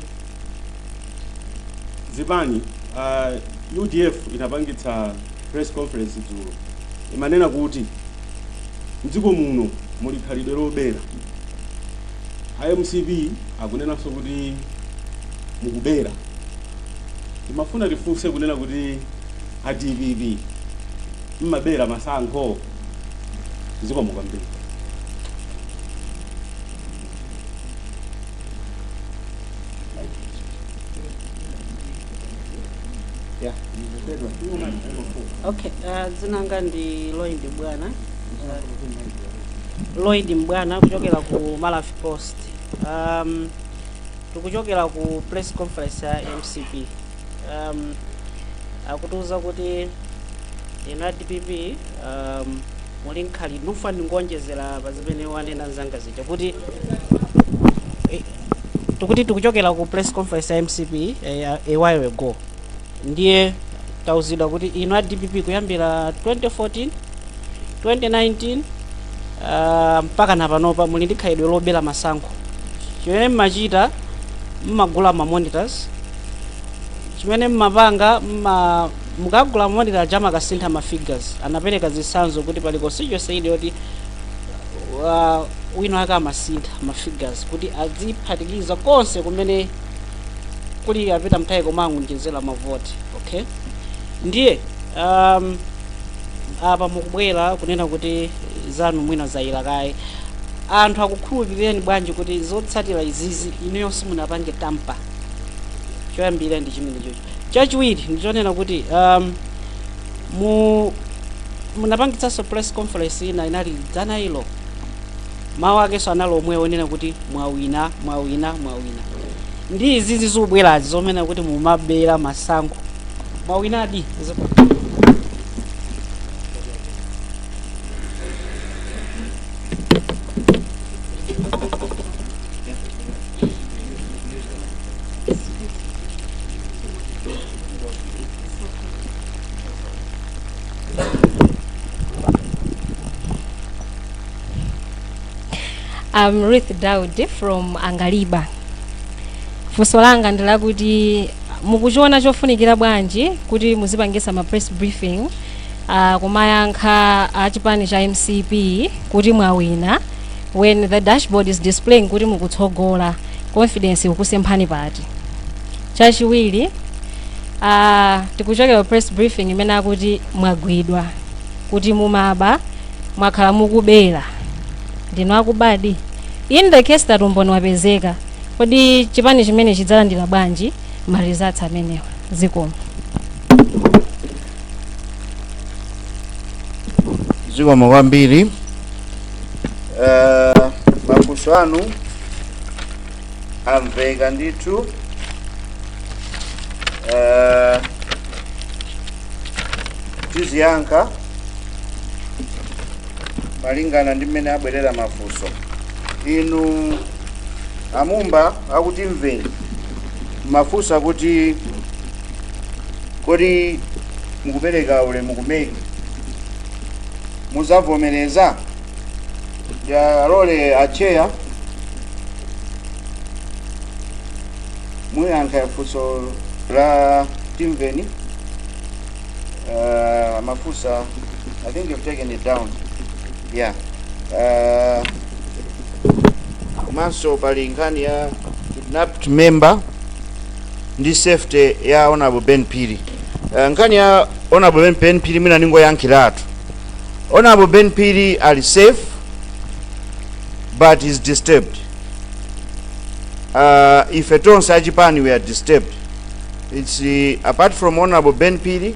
zipani uh, udf inapangitsa press conference dzulo imanena kuti mdziko muno muli khalidwe lobera a mcp akunenanso kuti mukubera timafuna tifunse kunena kuti A dpp mmabera masankho? Zikomo kwambiri. Yeah, ndikupedwa. Okay, uh, dzina langa ndi Lloyd Mbwana. Lloyd Mbwana kuchokera ku Malawi Post. Um, tikuchokera ku press conference ya MCP. um, akutiuza kuti inu a dpp um, muli nkhali ndifuna ndingowonjezera pa zimene wanena mnzanga zija kuti eh, tikuti tikuchokera ku press conference ya mcp eh, a a while ago ndiye tauzidwa kuti inu a dpp kuyambira 2014 2019 ah, mpaka na panopa muli ndi khalidwe lobera masankho chimene mmachita mmagula ma monitors chimene mumapanga mma mumakagula monitor aja amakasintha ma figures anapereka zitsanzo kuti pali constituency ili yoti uh, wina wake amasintha ma figures kuti aziphatikiza konse kumene kuli a Peter Mutharika koma angoonjezera mavoti okay ndiye um, apa mukubwera kunena kuti zanu mwina zayera kaye anthu akukhulupirireni bwanji kuti zotsatira izizi inuyo simunapange tampa choyambirira ndi chimene chocho chachiwiri ndichonena kuti um, mu munapangitsanso press conference ina inali dzana ilo mawu akenso anali omwe onena kuti mwawina mwawina mwawina ndi izizi zikubwerazi zonena kuti mumabera masankho mwawinadi Ziko- I'm Ruth Daudi from Angaliba. Funso langa ndi lakuti mukuchiona chofunikira bwanji kuti muzipangisa ma press briefing uh, kumayankha a chipani cha MCP kuti mwawina when the dashboard is displaying kuti mukutsogola confidence ikukusemphani pati chachiwiri uh, tikuchokera ku press briefing imene akuti mwagwidwa kuti mumaba mwakhala mukubera ndinu akubadi in the case that umboni wapezeka kodi chipani chimenechi chidzalandira bwanji ma results amenewa zikomo zikomo kwambiri Eh, mafunso anu amveka ndithu Eh, tiziyankha malingana ndi mmene abwerera mafunso inu amumba a Timveni mafunsa kuti kodi mukupereka ulemu ku MEC muzavomereza tiwalole a chair ayankhe funso la Timveni uh, mafunsa i think you've taken it down ya ah, komanso pali nkhani ya kidnapped member ndi safety ya honorable ben phiri Ah, nkhani ya honorable ben, ben phiri mwina ningoyankhiratu honorable ben phiri ali safe but he's disturbed uh, ife tonse achipani we are disturbed it's uh, apart from honorable ben phiri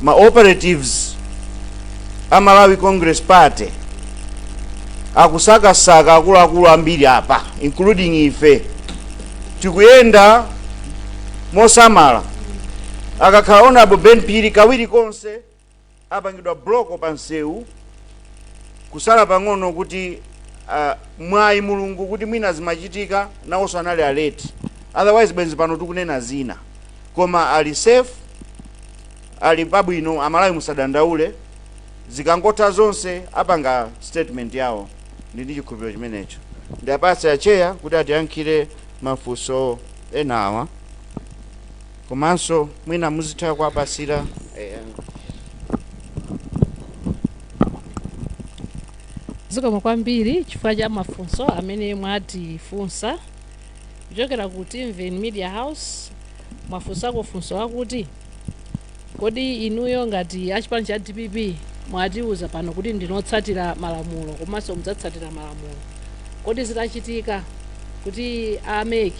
ma operatives a malawi congress party akusakasaka akuluakulu ambiri apa including ife tikuyenda mosamala akakhala honorable ben phiri kawiri konse apangidwa block pa msewu kusala pang'ono kuti uh, mwayi mulungu kuti mwina zimachitika nawonso anali alert otherwise bwenzi pano tikunena zina koma ali safe Ali pabwino amalawi musadandaule zikangotha zonse apanga statement yawo ndi ndi chikhulupiriro chimenecho ndiwapatsira a chair kuti atiyankhire mafunso enawa komanso mwina muzithe kuwapasira eh, zikomo kwambiri chifukwa cha mafunso amene mwatifunsa kuchokera ku timveni media house mwafunsa funso lakuti Kodi inuyo ngati a chipani cha dpp mwatiuza pano kuti ndinu otsatira malamulo komanso mudzatsatira malamulo, kodi zitachitika kuti a mec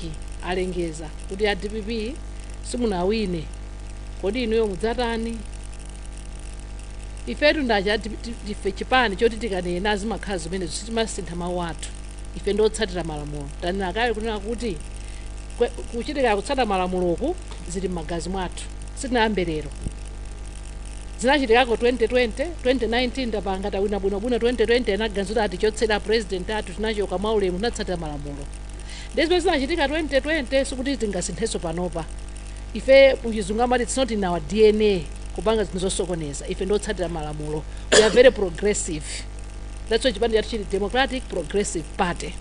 alengeza kuti a dpp simunawine, kodi inuyo mudzatani? Ifetu ndi aja ife chipani choti tikanena zimakhala zimenezo, sitimasintha mawu athu, ife ndi otsatira malamulo. Tanena kale kunena kuti kwe- kuchitika kutsata malamuloku zili m'magazi mwathu sitinayambe lero zinachitikako 2020 2019 titapanga titawina bwinobwino 2020 anaganiza atichotsera president athu tinachoka mwaulemu tinatsatira malamulo ndezimene zinachitika 2020 sikuti tingasinthenso panopa ife kuchizungu amati it's not in our dna kupanga zinthu zosokoneza ife ndiotsatira malamulo we are very progressive that's why chipani chathu chili democratic progressive party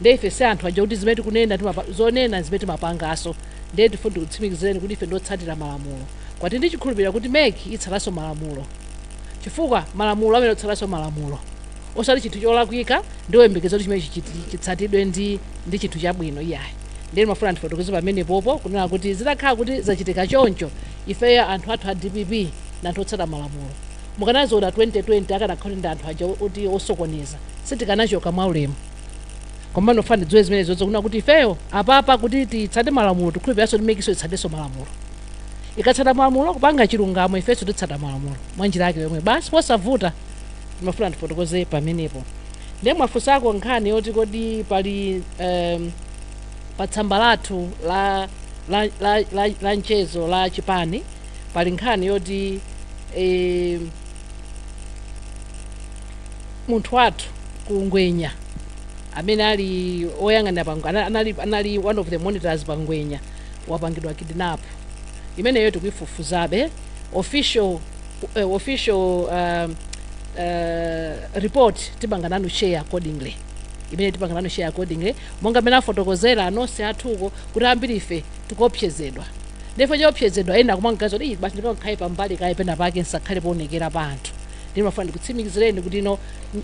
nde ife ndi anthu aja kuti zimene tikunena timapa- zonena zimene timapangaso ndiye tifuna tikutsimikizireni kuti ife ndiotsatira malamulo komatu ndi chikhulupiriro kuti mec itsatanso malamulo chifukwa malamulo amene otsatanso malamulo osati chinthu cholakwika ndioyembekeza kuti chimene chichiti- chitsatidwe ndi ndi chinthu chabwino iyayi ndiye ndimafuna ndifotokoze pamenepopo kunena kuti zitakhala kuti zachitika choncho ifeyo anthu athu a dpp ndi anthu otsata malamulo munaziona 2020 akanakhala kuti ndi anthu aja oti osokoneza sitikanachoka mwaulemu koma ndimafuna ndidziwe zimene zoti ikufuna kuti ifeyo apapa kuti titsate malamulo tikhulupiranso kuti MEC-nso itsatenso malamulo ikatsata malamulo kupanga chilungamo ifenso titsata malamulo mwa njira yake yomwe basi osavuta ndimafuna ndifotokoze pamenepo ndiye mwafunsako nkhani yoti kodi pali um, pa tsamba lathu la, la, la, la, la mchezo la chipani pali nkhani yoti eh, munthu wathu ku ngwenya amene ali oyang'anira pa Ngwe- ana- anali, anali one of the monitors pa ngwenya wapangidwa kidnap imeneyo tikuifufuzabe official, eh, official uh, uh, report tipanga nanu share accordingly imeneyo tipanga nanu share accordingly monga mmene afotokozera anzanga athuko kuti ambiri ife tikuopsezedwa ndiye pochopsezedwa ena akumangoti "Ih, basi ndikhale pambali kaye pena pake nsakhale poonekera pa anthu ndimafuna ndikutsimikizireni kuti inu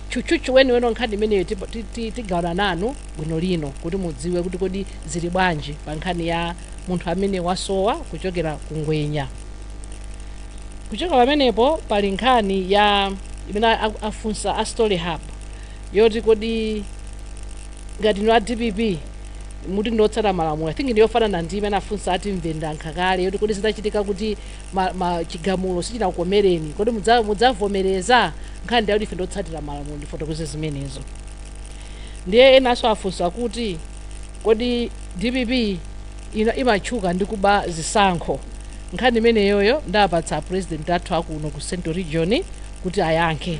tchutchutchu weniweni nkhani imeneyo tipo- ti- ti- tigawana nanu bwinolino kuti mudziwe kuti kodi zili bwanji pa nkhani ya munthu amene wasowa kuchokera ku ngwenya kuchokera pamenepo pali nkhani ya imene a- afunsa a story hub yoti kodi ngati inu a dpp mukuti ndiotsata malamulo i think ndiyofanana ndi imene afunsa ati mvenda nkale yoti kodi zitachitika kuti ma, ma chigamulo sichinakukomereni kodi mudza- mudzavomereza nkhani ndi yakuti ife ndiotsatira malamulo ndafotokoza zimenezo ndiye enanso afunsa kuti kodi dpp imatchuka ndi kuba zisankho nkhani imeneyoyo ndiapatsa a president athu akuno ku central region kuti ayankhe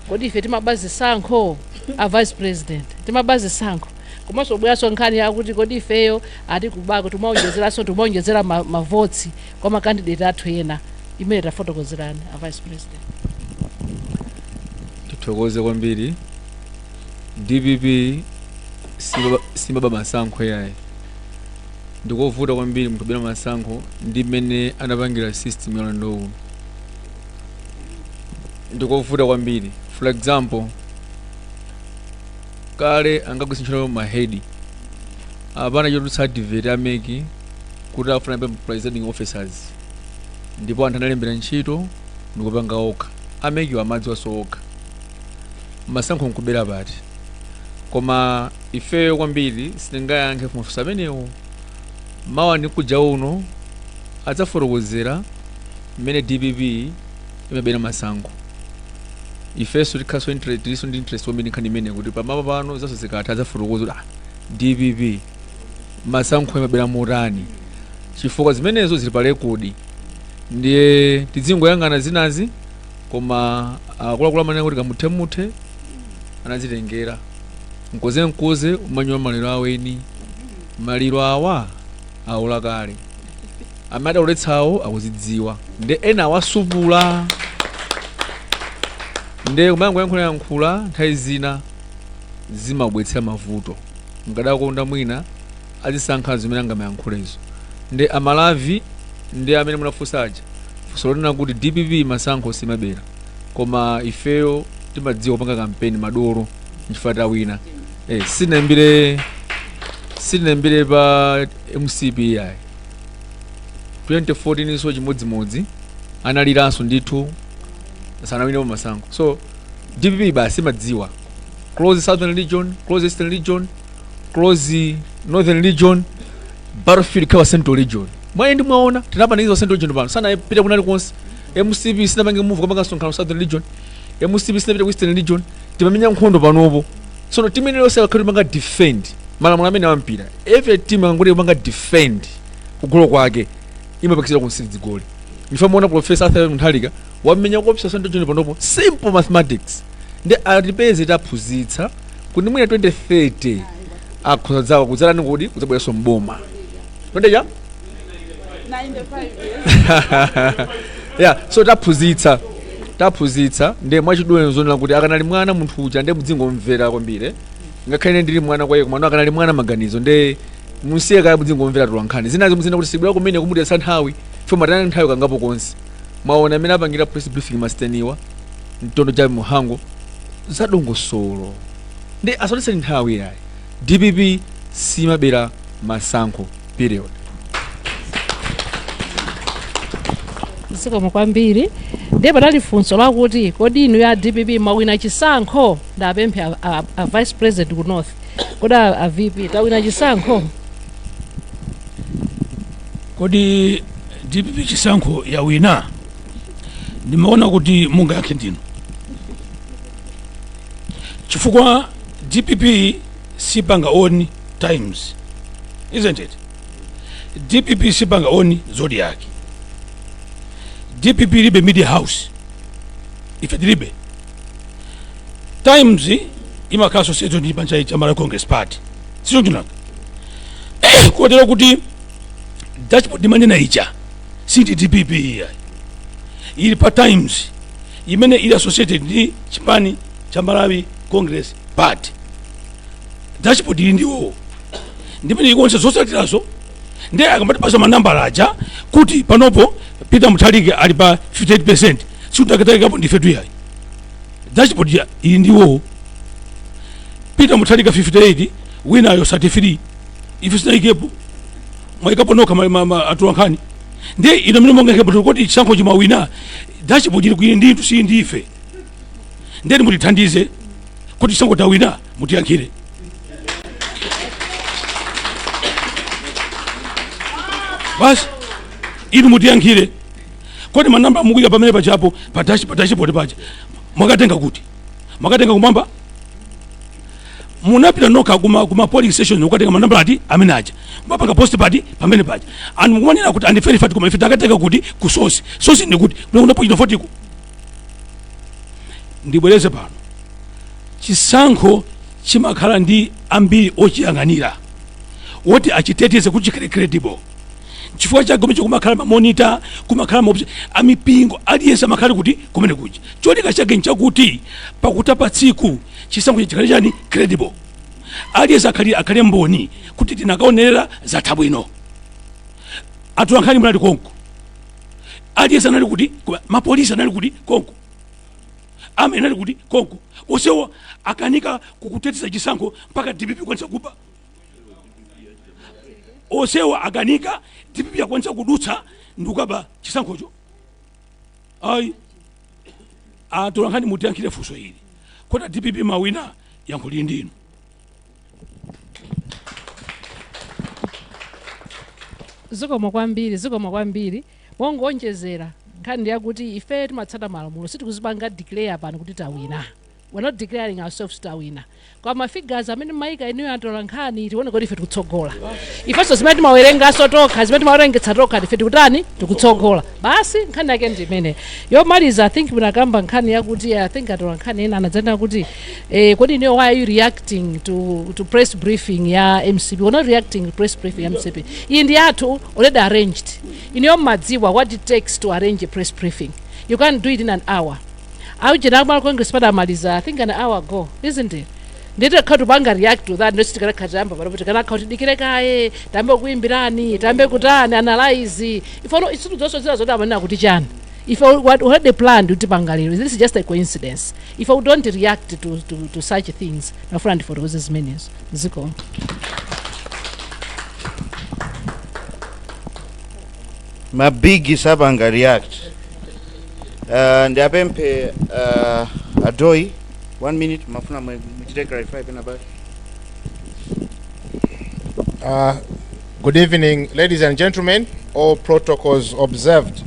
kodi ife timaba zisankho a vice president timaba zisankho komanso abweranso nkhani yakuti kodi ifeyo ati kubako timaonjezeranso timaonjezera ma- mavoti kwa makandidate athu ena imeneyo tafotokozerani a vice president tithokoze kwambiri dpp simaba- simaba masankho yayi ndikovuta kwambiri munthu kubera masankho ndi mmene anapangira system ya ulendo uno ndikovuta kwambiri for example kale ankagwiritsa ntchito mahedi apano anatulutsa advert a MEC kuti akufuna ma presiding officers ndipo anthu analembera ntchito ndikupanga okha a MEC-wa amadziwanso okha masankho nkubera pati koma ifeyo kwambiri sitingayankhe mafunso amenewo mawa ndi mkuja uno adzafotokozere mmene dpp imabera masankho ifenso tikhalanso interested tilinso ndi interest kwambiri nkhani imeneyi kuti pamawa pano zonsezo zikatha adzafotokoza kuti ah, dpp masankho imabera motani chifukwa zimenezo zili pa rekodi ndiye tidziyang'ana zinazi koma akuluakulu amanena kuti kamuthemuthe anadzitengera mkozenkoze umanyowa maliro aweni maliro awa aola kale amene adauletsawo akuzidziwa nde ena awasupula nde kumangoyankhulayankhula nthawi zina zimabwetsera mavuto mkadakonda mwina adzisankha zimene angamayankhulezo nde a Malawi ndi amene munafunsa aja funso lonena kuti dpp masankho simabera koma ifeyo timadziwa kupanga kampeni madolo nchifukwa tawina eh, sinayambire sinayambire pa mcp ayi 2014 so chimodzimodzi analiranso ndithu sanawinepo masankho so dpp basi imadziwa close southern region close eastern region close northern region battlefield ikhala central region nde mwaona tinapanikiza central region pano sanapita kwina kulikonse mcp sinapange move kukapanga msonkhano southern region mcp sinapita ku eastern region timamenya nkhondo panopo tsono timu ina iliyonse akakhala timapanga defend malamulo amene a mpira every team ikangoti kupanga defend kugolo kwake imapakisiridwa zigoli nde muona profesa arthur mutharika wamenya kopsa central region panopo simple mathematics nde atipeze taphunzitsa kuti mwina 2030 akhoza dzawa kudzalani kuti kudzabweranso mboma tondeja yeah so taphunzitsa taphunzitsa nde mwachidule zoonera kuti akanali mwana munthu uja nde mudzingomumvera kwambiri ngakhale ine ndili mwana kwa iye komano akanali mwana maganizo nde musiye kaye mudzingomumvera tinkhani zinazi muzina kuti sibwera kumene kumutayitsa nthawi fo matana nthawi kangapo konse mwaona amene apangira press briefing masteniwa mtondo wa mhango za dongosolo nde asatitayitse nthawi yayi dpp simabera masankho period zikomo kwambiri ndiye padali funso lakuti kodi inu a dpp mwawina chisankho ndapemphe a, a, a vice president ku north kodi a, a vp tawina chisankho kodi dpp chisankho yawina ndimaona kuti mungayankhe ndinu chifukwa dpp sipanga on times isn't it dpp sipanga on zodiak dpp ilibe media house ife tilibe times imakhala associated ndi chipani cha malawi congress party sichonchonaka kotero kuti dashboard ndimanena ija si ndi dpp iyayi ili pa times imene ili associated ndi chipani cha malawi congress party dashboard ili ndi iwowo ndi imene ikuonetsa zotsatirazo ndiye akamatipasa manambala aja kuti panopo peter mutharika ali pa 58 percent sikuti takaikapo ndifetu iyayi dashboard ya- ili ndi iwowo peter mutharika 58 winayo 33 ife sitinaikepo mwaikapo nokha ma- ma- ma- atolankhani ndi inu amene muyankhe kuti chisankho chi mwawina dashboard ili kwinu ndithu si ndife ndiye inu mutithandize kodi chisankho tawina mutiyankhire basi inu mutiyankhire kodi manamba mukuika pamene pajapo pa dash- pa dashboard paja mwakatenga kuti mwakatenga kumwamba munapita nokha kuma, kuma polling station kukatenga manambala eti amene aja mapanga post pati pamene paja anthu mukuwanena kuti andifere fati koma ife takatenga kuti ku sosi sosi ndi kuti kunakuda pochita fotiko ndibwereze pano chisankho chimakhala ndi ambiri ochiyang'anira oti achiteteze kuti chikhale credible chifukwa cha chomwe kumakhala mamonita kumakhala maopsi amipingo aliyense amakhala kuti kumene kuja cholinga chake nchakuti pakutha pa tsiku chisankho chikhale chani credible aliyense akhali akhale mboni kuti tinakaonerera zatha bwino atolankhani munali konko aliyense anali kuti konko apolisi anali kuti konko army anali kuti konko onsewo akanika kukateteza chisankho mpaka dpp kukwanitsa kuba onsewo akanika dpp akwanitsa kudutsa ndikukaba chisankhocho ayi atolankhani mutiyankhire funso ili kodi a dpp mwawina yankho lili ndinu zikomo kwambiri zikomo kwambiri mongowonjezera nkhani yakuti ife timatsata malamulo sitikudzipanga declare pano kuti tawina we're not declaring ourselves kuti tawina koma mafigures amene mwaika inuyo atolankhani akutionetsa kuti ife tikutsogola ifenso zimene timawerengetsa tokha zimene timawerengetsa tokha ife tikutani tikutsogola basi nkhani yake ndi imeneyo yomaliza i think munakamba nkhani yakuti i think atolankhani ena anadzanena kuti eh, kodi inuyo why are you reacting to, to press briefing ya mcp we're not reacting to press briefing ya mcp iyi ndi yathu already arranged inuyo mumadziwa what it takes to arrange a press briefing you can't do it in an hour aujeni aku Malawi Congress Party amaliza i think an hour ago isn't it ndiye tikukhala tikupanga react to that ndoti tikanakhala tiyamba panopo tikanakhala tidikire kaye tiyambe kuimbirani tiyambe kutani analyze ife ayi situ zonse zina zoti amanena kuti chani if I what had the plan to Tipangalero, this is just a coincidence. Ife we don't react to, to, to such things, ma phwefwe otero azimene aziko. mabigi sapanga react Uh, ndi apemphe uh, a Dowe one minute mumafuna mwe- muchite clarify pena pali Uh, good evening, ladies and gentlemen. All protocols observed.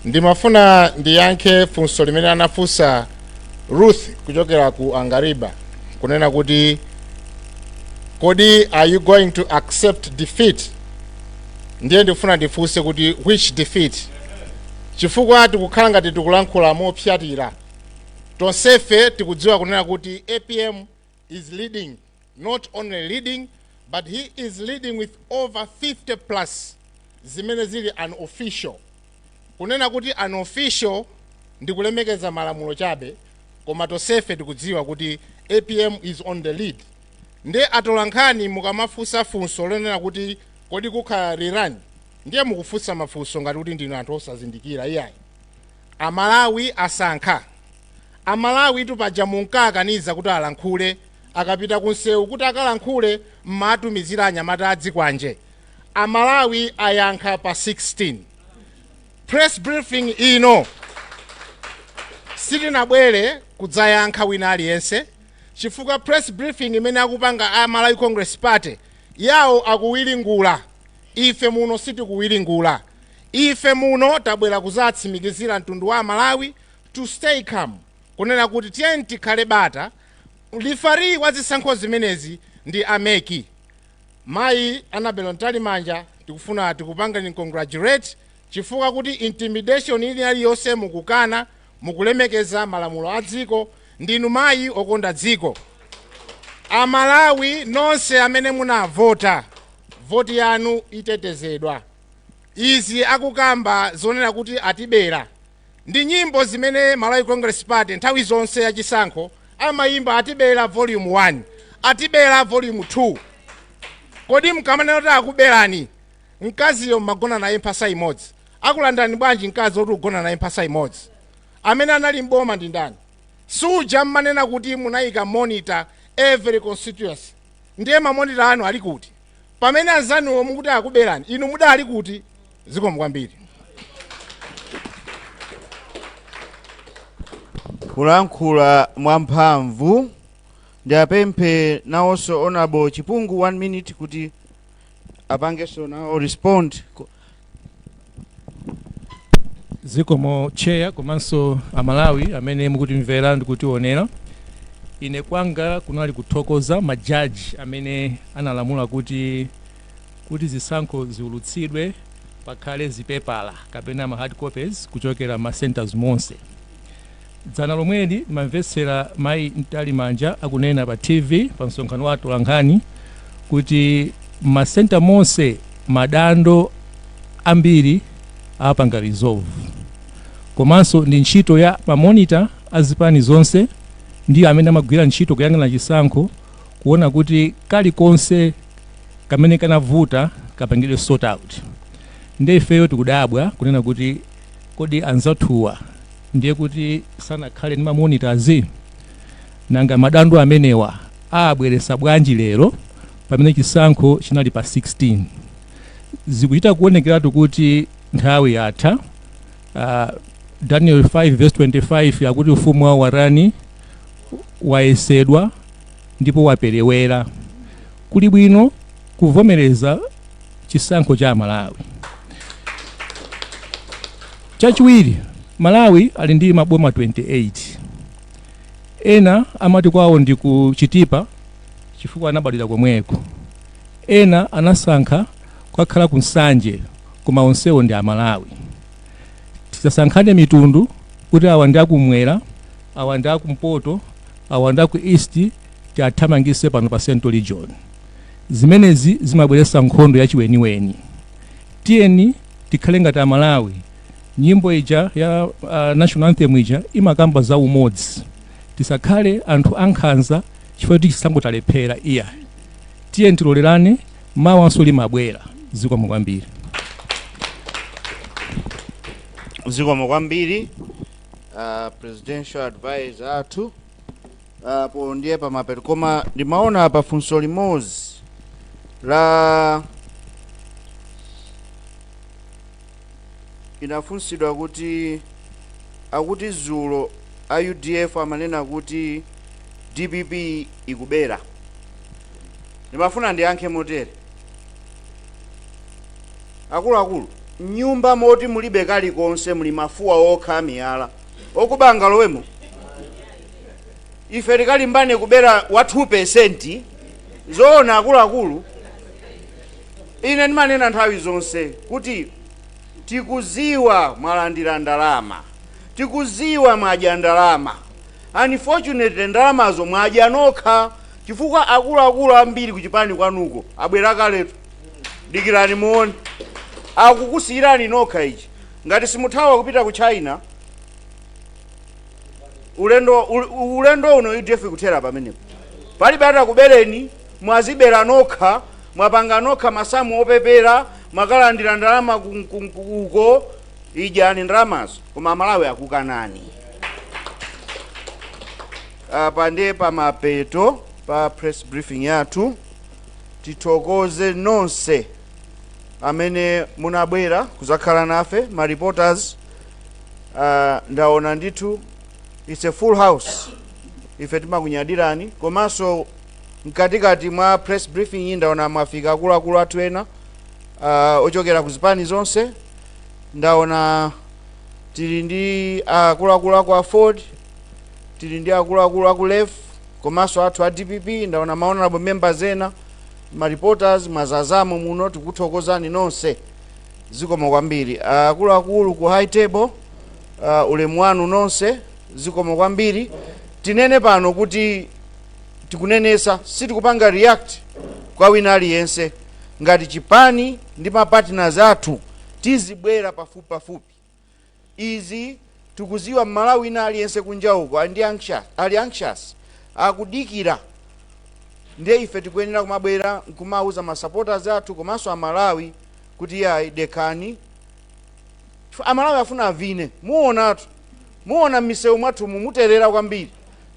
Ndimafuna ndiyankhe funso limene anafunsa Ruth kuchokera ku Angariba kunena kuti kodi are you going to accept defeat ndiye ndikufuna ndifunse kuti which defeat chifukwa tikukhala ngati tikulankhula mopsyatira tonsefe tikudziwa kunena kuti apm is leading not only leading but he is leading with over 50 plus zimene zili unofficial Kunena kuti unofficial ndikulemekeza malamulo chabe koma tonsefe tikudziwa kuti apm is on the lead nde atolankhani mukamafunsa funso lonena kuti kodi kukhala rerun ndiye mukufunsa mafunso ngati kuti ndinu anthu osazindikira iyayi. Amalawi asankha. Amalawitu paja munkawakaniza kuti alankhule akapita kunsewu kuti akalankhule mmawatumizira anyamata adzikwanje Amalawi ayankha pa 16. Press briefing ino sitinabwere kudzayankha wina aliyense chifukwa press briefing imene akupanga a Malawi Congress Party yawo akuwiringula, ife muno sitikuwiringula. Ife muno tabwera kudzatsimikizira mtundu wa Amalawi to stay calm, kunena kuti tiyeni tikhale bata, referee wa zisankho zimenezi ndi a mec. Mayi Annabel Mtalimanja tikufuna tikupangeni congratulate chifukwa kuti intimidation ina iliyonse mukukana, mukulemekeza malamulo a dziko, ndinu mayi okonda dziko. Amalawi nonse amene munavota, voti yanu itetezedwa. Izi akukamba zonena kuti atibera, Ndi nyimbo zimene Malawi Congress Party nthawi zonse ya chisankho amayimba atibera volume 1, atibera volume 2. Kodi mkamanena kuti akuberani mkaziyo mmagona naye mphasa imodzi, akulandani bwanji mkazi oti mukugona naye mphasa imodzi? Amene anali m'boma ndi ndani? Si uja mmanena kuti munayika monitor every constituency? Ndiye ma monitor anu ali kuti? Pamene anzanuwo mukuti akuberani, inu mudali kuti? zikomo kwambiri kulankhula mwamphamvu ndiwapemphe nawonso honourable chipungu one minute kuti apangenso nawo respond Ku- zikomo tcheya komanso amalawi amene mukutimvera ndi kutionera ine kwanga kunali kuthokoza majaji amene analamula kuti kuti zisankho ziulutsidwe pakhale zipepala kapena ma hard copies kuchokera ma centers monse dzana lomweli mamvetsera mayi mtalimanja akunena pa tv pa msonkhano wa atolankhani kuti masenta monse madando ambiri apanga resolve komanso ndi ntchito ya mamonita a zipani zonse ndiwo amene amagwira ntchito kuyang'ana chisankho kuona kuti kalikonse kamene kanavuta kapangidwe sort out nde ifeyo tikudabwa kunena kuti kodi anzathuwa ndiye kuti sanakhale ndi mamonitazi nanga madando amenewa abweresa bwanji lero pamene chisankho chinali pa 16 zikuchita kuonekeratu kuti nthawi yatha uh, daniel 5 25 akuti ufumu wawo wa warani wayesedwa ndipo waperewera kuli bwino kuvomereza chisankho cha amalawi chachiwiri malawi ali ndi maboma 28 ena amati kwawo ndi ku chitipa chifukwa anabadwira komweko ena anasankha kukakhala ku nsanje koma onsewo ndi amalawi tisasankhane mitundu kuti awa ndi akumwera awa ndi akumpoto awa ndi aku east tiwathamangise pano pa central region zimenezi zimabweretsa nkhondo yachiweniweni tiyeni tikhale ngati amalawi nyimbo ija ya uh, national anthem ija imakamba za umodzi tisakhale anthu ankhanza chifukwa choti chisankho talephera iya tiyeni tilolerane mawanso limabwera zikomo kwambiri zikomo kwambiri uh, presidential advisor athu apo ndiye pamapeto koma ndimaona apa funso limodzi linafunsidwa kuti akuti dzulo a udf amanena kuti dpp ikubera ndimafuna ndiyankhe motere Akuluakulu, mnyumba moti mulibe kalikonse muli mafuwa okha amiyala. Okuba angalowemo? Ife tikalimbane kubera a 2% Zoona akuluakulu? Ine ndimanena nthawi zonse kuti tikuziwa mwalandira ndalama, tikuziwa mwadya ndalama, unfortunately ndalamazo mwadya nokha chifukwa akuluakulu ambiri kuchipani kwanuko abwera kaletu. dikirani muone akukusiyirani nokha ichi ngati simuthawa kupita ku china ulendo ul- ulendo uno udf kuthera pamenepo palibe atakubereni mwazibera nokha mwapanga nokha masamu opepera mwakalandira ndalama ku- ku- ku- uko idyani ndalamazo koma amalawi akukanani apa ndiye pamapeto pa press briefing yathu tithokoze nonse amene munabwera kuzakhala nafe ma reporters uh, ndaona ndithu it's a full house ife timakunyadirani komanso mkatikati mwa press briefing iyi ndaona mwafika akuluakulu athu ena uh, ochokera ku zipani zonse ndaona tili ndi akuluakulu aku aford tili ndi akuluakulu aku lef komanso athu a dpp ndaona ma honorable members ena ma reporters mwazazamo muno tikuthokozani nonse zikomo kwambiri Ah, akuluakulu ku high table uh, ulemu wanu nonse zikomo kwambiri tinene pano kuti tikunenesa sitikupanga react kwa wina aliyense ngati chipani ndi mapartners athu tizibwera pafupi pafupi izi tikuziwa mmalawi wina aliyense kunja uko ali ndi anxious ali anxious akudikira ndiye ife tikuyenera kumabwera nkumauza ma supporters athu komanso amalawi kuti yayi dekhani Chifukwa amalawi afuna avine muonatu muona mmisewu mwathumu muterera kwambiri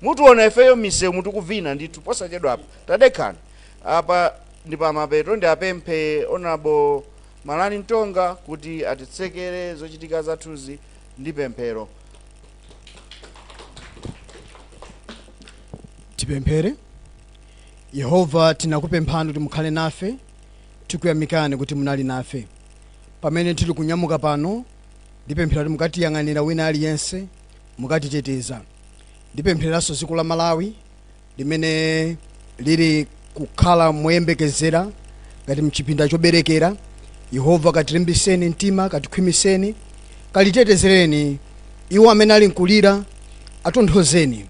mutiona ifeyo mmisewu muli tikuvina ndithu posachedwa apa tadekhani apa ndi pamapeto ndiwapemphe honorable Malani Mtonga kuti atitsekere zochitika zathuzi ndi pemphero. Tipemphere. Yehova, tinakupemphani kuti mukhale nafe, tikuyamikani kuti munali nafe. Pamene tili kunyamuka pano, ndipemphera kuti mukatiyang'anira wina aliyense, mukatiteteza. Ndipemphereranso dziko la Malawi, limene lili kukhala moyembekezera ngati mchipinda choberekera yehova katilimbiseni mtima katikhwimiseni kalitetezereni iwo amene ali nkulira atonthozeni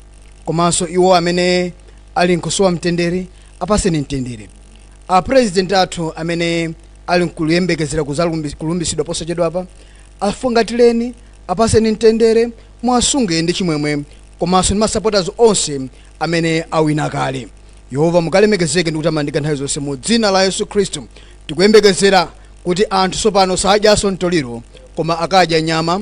komanso iwo amene ali nkusowa mtendere apaseni mtendere apurezidenti athu amene ali nkuyembekezera kuzalumbi- kulumbitsidwa posachedwapa afungatireni apaseni mtendere Muwasunge ndi chimwemwe komanso ndi ma supporters onse amene awina kale. Yehova mukalemekezeke ndi kutamandika nthawi zonse mu dzina la Yesu Khristu. Tikuyembekezera kuti anthu tsopano sadyanso mtoliro koma akadya nyama,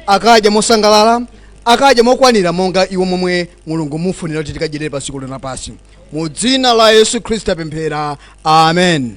akadya mosangalala, akadya mokwanira monga umo momwe Mulungu mufunira kuti tikadyerere pa dziko lino lapansi. Mu dzina la Yesu Khristu tapemphera. Amen.